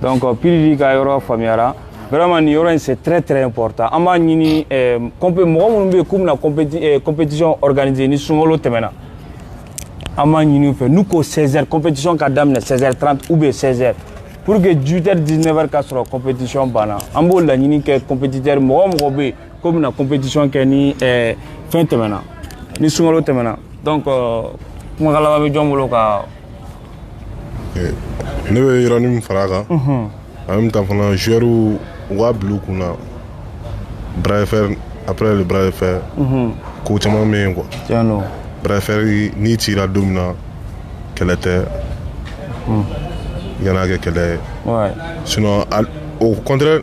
donc euh, piridi ka yɔrɔ faamuyara vraiment nin yɔrɔ in c'est très très important an b'a ɲini eh, mɔgɔ minnu bɛ yen k'u bɛna eh, compétition organiser ni sunkalo tɛmɛna an b'a ɲini u fɛ n'u ko 16 heures compétition ka daminɛ 16 heures 30 ou bien 16 heures pour que 18 heures 19 heures ka sɔrɔ compétition banna an b'o laɲini kɛ compétiteur mɔgɔ o mɔgɔ bɛ yen k'u bɛna compétition kɛ ni ɛɛ eh, fɛn tɛmɛna ni sunkalo tɛmɛna donc euh, kumakan laban bɛ jɔn bolo ka. Eh, ne bɛ yɔrɔnin min fara a kan. Mhm. en même temps fana joueurs u k'a bila u kun na bras de fer après le bras de fer. Mhm. ko caman bɛ yen quoi. tiɲɛ don. bras de fer n'i cira don min na kɛlɛ tɛ. Mhm. i kan'a kɛ kɛlɛ ye. sinon au contraire.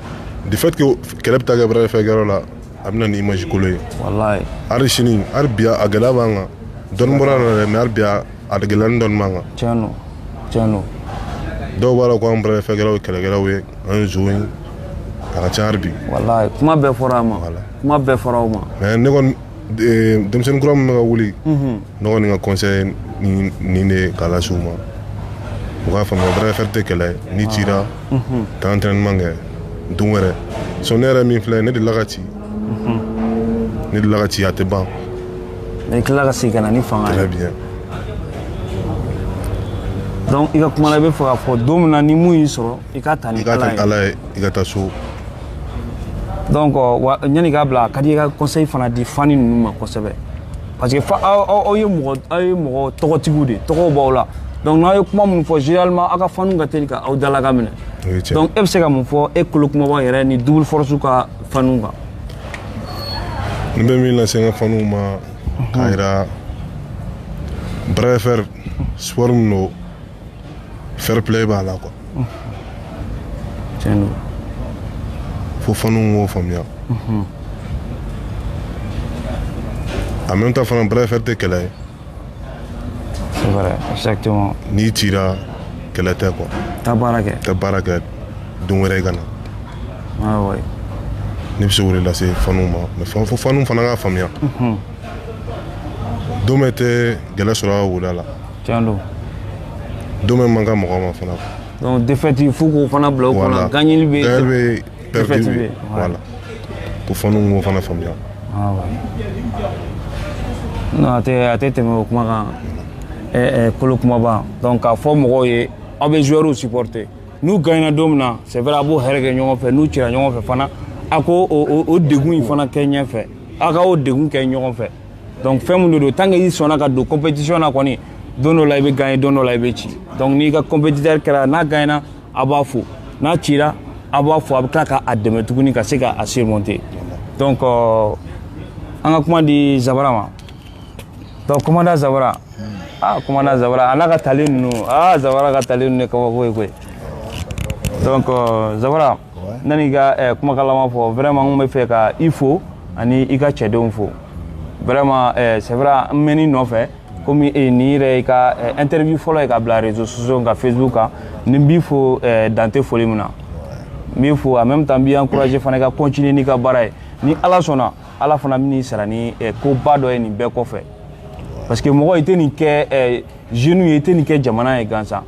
du fait que kɛlɛ bɛ taa kɛ bras de fer kɛyɔrɔ la a bɛ na ni image kolo ye walayi hali sini hali bi a gɛlɛya b'an kan dɔɔni bɔra a la dɛ mais hali bi a gɛlɛyani dɔɔni b'an kan tiɲɛ don tiɲɛ don dɔw b'a la ko an bras de fer kɛlaw ye kɛlɛkɛlaw ye an ye nson ye a ka ca hali bi walayi kuma bɛɛ fɔra a ma kuma bɛɛ fɔra o ma mais ne kɔni denmisɛnnin kura min bɛ ka wuli ne kɔni ka conseil nin de ye k'a lase u ma u k'a faamuya bras de fer tɛ kɛlɛ ye n'i cira taa entraînement kɛ don wɛrɛ so ne yɛrɛ min filɛ ne delila ka ci ne delila ka ci a tɛ ban i tilala ka segin ka na ni fanga ye très bien donc i ka kuma la i bɛ fɛ k'a fɔ don min na ni mun y'i sɔrɔ i k'a ta ni i k'a ta ni ala ye i ka taa so donc ɲani i k'a bila a ka di i ka conseil fana di fans ninnu ma kosɛbɛ parce que fa aw ye mɔgɔ aw ye mɔgɔ tɔgɔtigiw de tɔgɔw b'aw la donc n'aw ye kuma minnu fɔ généralement aw ka faniw ka teli ka aw dalakan minɛ donc e bɛ se ka mun fɔ e kolo kumaba yɛrɛ ni double force ka faniw kan n bɛ min lase n ka faniw ma k'a jira bras de fer sport min don fair play b'a la quoi tiɲɛ don fo faninw k'o faamuya en même temps fana bras de fer tɛ kɛlɛ ye c'est vrai exactement n'i cira kɛlɛ tɛ quoi taa baara kɛ taa baara kɛ don wɛrɛ i ka na ah ouais ne bɛ se k'o de lase faninw ma mais fan- fo faninw fana k'a faamuya don bɛɛ tɛ gɛlɛ sɔrɔ a ka wo da la tiɲɛ don don bɛɛ man kan mɔgɔ ma fana donc défaite fo k'o fana bila u kɔnɔ gagneli bɛ yen défaite bɛ yen voilà ko faniw k'o fana faamuya non a tɛ a tɛ tɛmɛ o kuma kan ɛɛ kolo kumaba donc k'a fɔ mɔgɔw ye aw bɛ joueurs supporter n'u gagnera don min na c'est vrai aw b'o hɛrɛ kɛ ɲɔgɔn fɛ n'u cira ɲɔgɔn fɛ fana aw k'o degun in fana kɛ ɲɛfɛ aw ka o degun kɛ ɲɔgɔn fɛ donc fɛn mun de don tant que i sɔnna ka don compétition na kɔni don dɔ la i bɛ gagner don dɔ la i bɛ ci donc n'i ka compétiteur kɛra n'a gagnera a b'a fo n'a cira a b'a fo a bɛ tila ka a dɛmɛ tuguni ka se ka a surmonter donc euh, an ka kuma di zabara ma donc commandant zabara ah commandant zabara a n'a ka tali ninnu ah zabara ka tali ninnu ye kabako ye koyi donc euh, zabara yan'i ka eh, kumakan laban fɔ vraiment n kun bɛ fɛ ka i fo ani i ka cɛdenw fo vraiment eh, c'est vrai n mɛn'i nɔfɛ komi eh, nin yɛrɛ i ka eh, interview fɔlɔ ye ka bila réseaux sociaux kan facebook kan ni n b'i fo eh, dan tɛ foli min na n b'i fo en même temps n b'i encourager fana i ka continuer n'i ka baara ye ni ala sɔnna ala fana bɛn'i sara ni eh, koba dɔ ye nin bɛɛ kɔfɛ parce que mɔgɔ i tɛ nin kɛ eh, jeunes ye i tɛ nin kɛ jamana ye gansan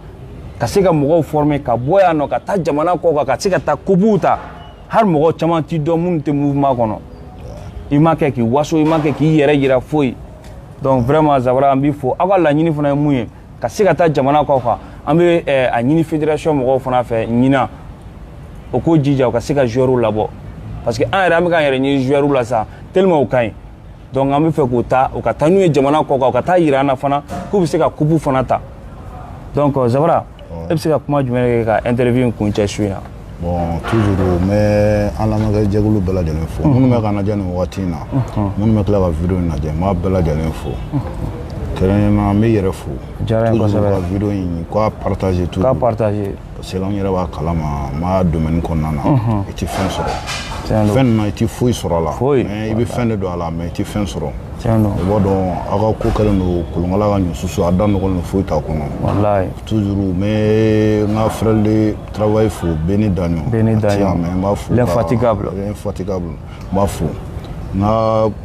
ka se ka mɔgɔw former ka bɔ yan nɔ ka taa jamana kɔ kan ka se ka taa kupuw ta hali mɔgɔ caman t'i dɔn minnu tɛ mouvement kɔnɔ i ma kɛ k'i waso i ma kɛ k'i yɛrɛ yira foyi donc vraiment zabara an b'i fo aw ka laɲini fana ye mun ye ka se ka taa jamana kɔ kan an bɛ eh, a ɲini fédération mɔgɔw fana fɛ ɲinan u k'u jija u ka se ka joueurs labɔ parce que an yɛrɛ an bɛ k'an yɛrɛ ɲini joueurs la sa tellement u ka ɲi donc an bɛ fɛ k'u ta u ka taa n'u ye jamana kɔ kan u ka taa yira an na fana k'u bɛ se ka kupu fana ta donc euh, zabara e bɛ se ka kuma jumɛn kɛ ka interview in kuncɛ su in na bon toujours n bɛ an lamɛnkɛ jɛkulu bɛɛ lajɛlen fo minnu bɛ ka an lajɛ nin wagati in na minnu bɛ tila ka video in lajɛ n b'a bɛɛ lajɛlen fo kɛrɛnkɛrɛnnenya la n b'i yɛrɛ fo diyara n ye kosɛbɛ ka video in k'a partager toujours k'a partager parce que an yɛrɛ b'a kalama n b'a domaine kɔnɔna na i tɛ fɛn sɔrɔ fɛn ninnu na i tɛ foyi sɔrɔ a la i bɛ fɛn de don a la mais i tɛ fɛn sɔrɔ i b'a dɔn aw ka ko kɛlen don kolonkala ka ɲɔsusu a da nɔgɔlen don foyi t'a kɔnɔ toujours n bɛ n ka frère de travail fo Beni Daɲɔn Beni Daɲɔn n b'a fo l'infatigable n b'a fo n ka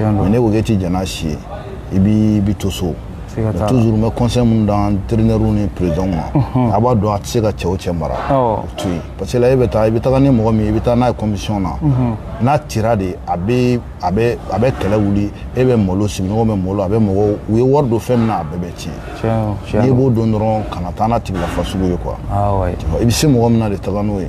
mais ne ko k'e ti jɛn n'a si ye i b'i to so toujours n bɛ conseil minnu d'an entraîneur ni président ma mhm. a b'a dɔn a tɛ se ka cɛ o cɛ mara o to yen parce que la e bɛ taa i bɛ taga ni mɔgɔ min ye i bɛ taa n'a ye compétition na mhm. n'a tira de a bɛ a bɛ a bɛ kɛlɛ wuli e bɛ malo sigiɲɔgɔn bɛ malo a bɛ mɔgɔw u ye wari don fɛn min na a bɛɛ bɛ tiɲɛ n'i b'o dɔn dɔrɔn kana taa n'a tigi la fasugu ye quoi i bɛ se mɔgɔ min na de taga n'o ye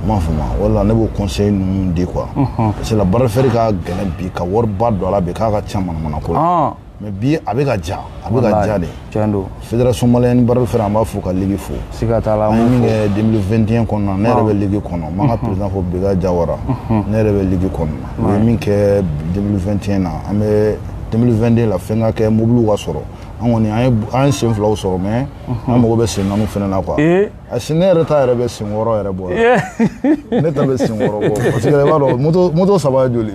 m'a faamu wala ne b'o conseil ninnu di quoi parce que la bras de fer ka gɛlɛn bi ka wariba don a la bi k'a ka ca manamana ko la mais bi a bɛ ka ja a bɛ ka ja de tiɲɛ don fédération malienne bras de fer an b'a fo ka ligue fo siga t'a la an ye min kɛ 2021 kɔnɔna ne yɛrɛ bɛ ligue kɔnɔ n b'an ka président fo Beka Jawara ne yɛrɛ bɛ ligue kɔnɔ u ye min kɛ 2021 na an bɛ 2022 la fɛn ka kɛ mobiliw ka sɔrɔ an kɔni an ye sen filaw sɔrɔ mais an mago bɛ sen naaniw fana na quoi A si ne yɛrɛ ta yɛrɛ bɛ sen wɔɔrɔ yɛrɛ bɔ ne ta bɛ sen wɔɔrɔ bɔ parce que i b'a dɔn moto saba joli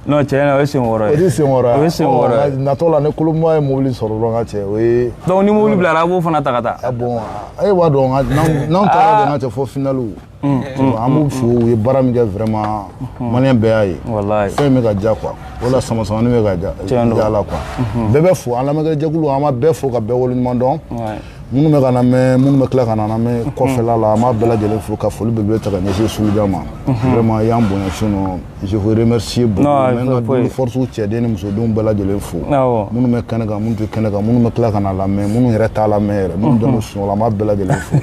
non tiɲɛ na o ye sen wɔɔrɔ ye o ye sen wɔɔrɔ o ye sen wɔɔrɔ ye natɔ la ni kolonba ye mobili sɔrɔ dɔrɔn ka cɛ o ye donc ni mobili bilara a b'o fana ta ka taa a bon e b'a dɔn n'anw taara de ka cɛ fɔ finaliw an b'u fo u ye baara min kɛ vraiment maliyɛn bɛɛ y'a ye walayi fɛn bɛ ka diya quoi o la sama samani bɛ ka diya la quoi bɛɛ bɛ fo an lamɛnkɛjɛkulu an b'a bɛɛ fo ka bɛɛ waleɲuman dɔn minnu bɛ k'an lamɛn minnu bɛ tila ka n'an lamɛn kɔfɛla la an b'a bɛɛ lajɛlen fo ka foli belebele ta ka ɲɛsin sulujan ma vraiment i y'an bonya sinon je vous remercie beaucoup n bɛ n ka double force cɛden ni musodenw bɛɛ lajɛlen fo minnu bɛ kɛnɛ kan minnu tɛ kɛnɛ kan minnu bɛ tila ka n'a lamɛn minnu yɛrɛ t'a lamɛn yɛrɛ minnu dɔnnen sunɔgɔ la an b'a bɛɛ lajɛlen fo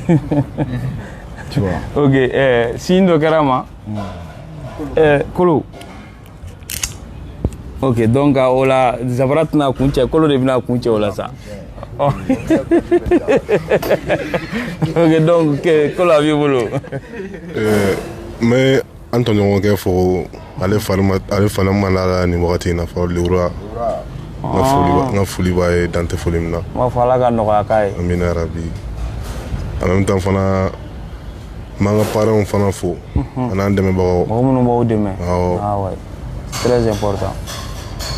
tu vois ok ɛɛ signe dɔ kɛra n ma ɛɛ kolo ok donc o la zabara tɛna kun cɛ kolo de bɛna kun cɛ o la sa oh. ok donc kolo a b'i bolo euh, n bɛ an tɔɲɔgɔnkɛ fo ale fana ma lafiya nin wagati in na fɔ lewura ah. n ka foli b'a ye dan tɛ foli min na n b'a fɔ ala ka nɔgɔya k'a ye amina yarabi en même temps fana n b'an ka parrainw fana fo an'an dɛmɛbagaw mɔgɔ minnu b'aw dɛmɛ awɔ très important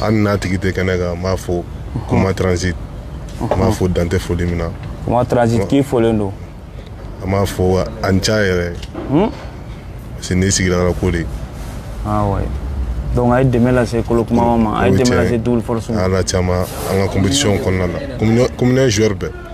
hali n'a tigi tɛ kɛnɛ kan n b'a fo kuma transit n b'a fo dan tɛ foli min na kuma transit k'i folen don an b'a fo a ni ca yɛrɛ parce que n'i sigira ka ko de awɔ donc a ye dɛmɛ lase kolo kuma ma a ye dɛmɛ lase double force ma ala caman an ka compétition kɔnɔna na communauté joueur bɛɛ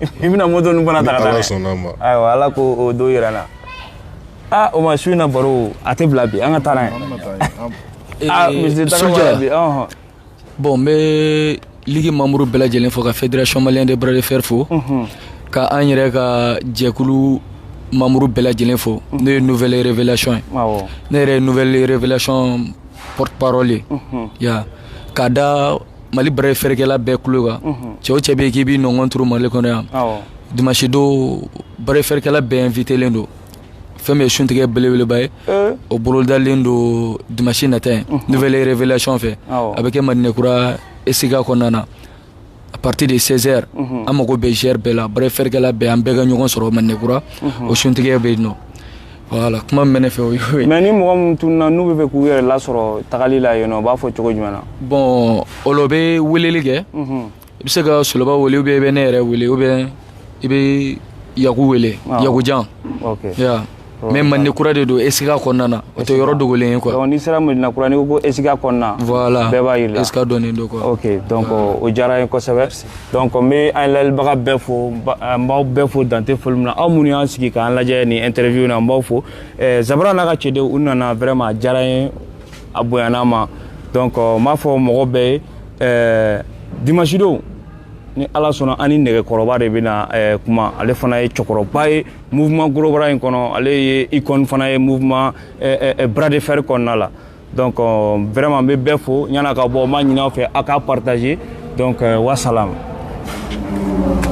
i bɛna moto ninnu fana ta ka taa ala sɔnn'a ma ayiwa ala k'o don yira n na aa o ma su in na baro a tɛ bila bi an ka taa n'a ye aa monsieur tagabara bi ɔhɔn bon n bɛ ligue membre bɛɛ lajɛlen fo ka fédération malien de bras de fer fo ka an yɛrɛ ka jɛkulu membre bɛɛ lajɛlen fo n'o ye nouvelle révélation ye awɔ ne yɛrɛ ye nouvelle révélation porte parole ye ya k'a da Mali bras de fer kɛla bɛɛ kulo kan cɛ o cɛ bɛ yen k'i b'i nɔngɔn turu mali kɔnɔ yan dimasi don bras de fer kɛla bɛɛ invitélen don fɛn min ye suntigɛ belebeleba ye o bolodalen don dimasi nata ye nouvelle révélation fɛ a bɛ kɛ madina kura esika kɔnɔna na à partir de seize heures an mago bɛ GR bɛɛ la bras de fer kɛla bɛɛ an bɛɛ ka ɲɔgɔn sɔrɔ madina kura o suntigɛ bɛ yen nɔ voilà kuma min bɛ ne fɛ o y'o ye mais ni mɔgɔ minnu tununa n'u bɛ fɛ k'u yɛrɛ lasɔrɔ tagali la yen nɔ u b'a fɔ cogo jumɛn na bon olu bɛ weleli kɛ mhm. i bɛ se ka soloba wele ou bien i bɛ ne yɛrɛ wele ou bien i bɛ yaku wele ah. yakujan mais madina kura de don esika kɔnɔna na o tɛ yɔrɔ dogolen ye quoi n'i sera medina kura n'i ko ko esika kɔnɔna voilà bɛɛ b'a yir'i la esika dɔnnen don quoi ok donc o diyara n ye kosɛbɛ donc n bɛ an lajɛlibaga bɛɛ fo n b'aw bɛɛ fo dan tɛ foli min na aw minnu y'aw sigi k'an lajɛ nin interview na n b'aw fo eh, zabara n'a ka cɛdenw u nana vraiment a diyara n ye a bonyana n ma donc n b'a fɔ mɔgɔ bɛɛ ye eh, dimanche don ni ala sɔnna an ni nɛgɛkɔrɔba de bɛna eh, kuma ale fana ye cɛkɔrɔba ye mouvement gros bras in kɔnɔ ale ye icône fana ye mouvement bras de fer kɔnɔna la donc euh, vraiment n bɛ bɛɛ fo yann'an ka bɔ n b'a ɲini aw fɛ aw k'a partager donc euh, wasalam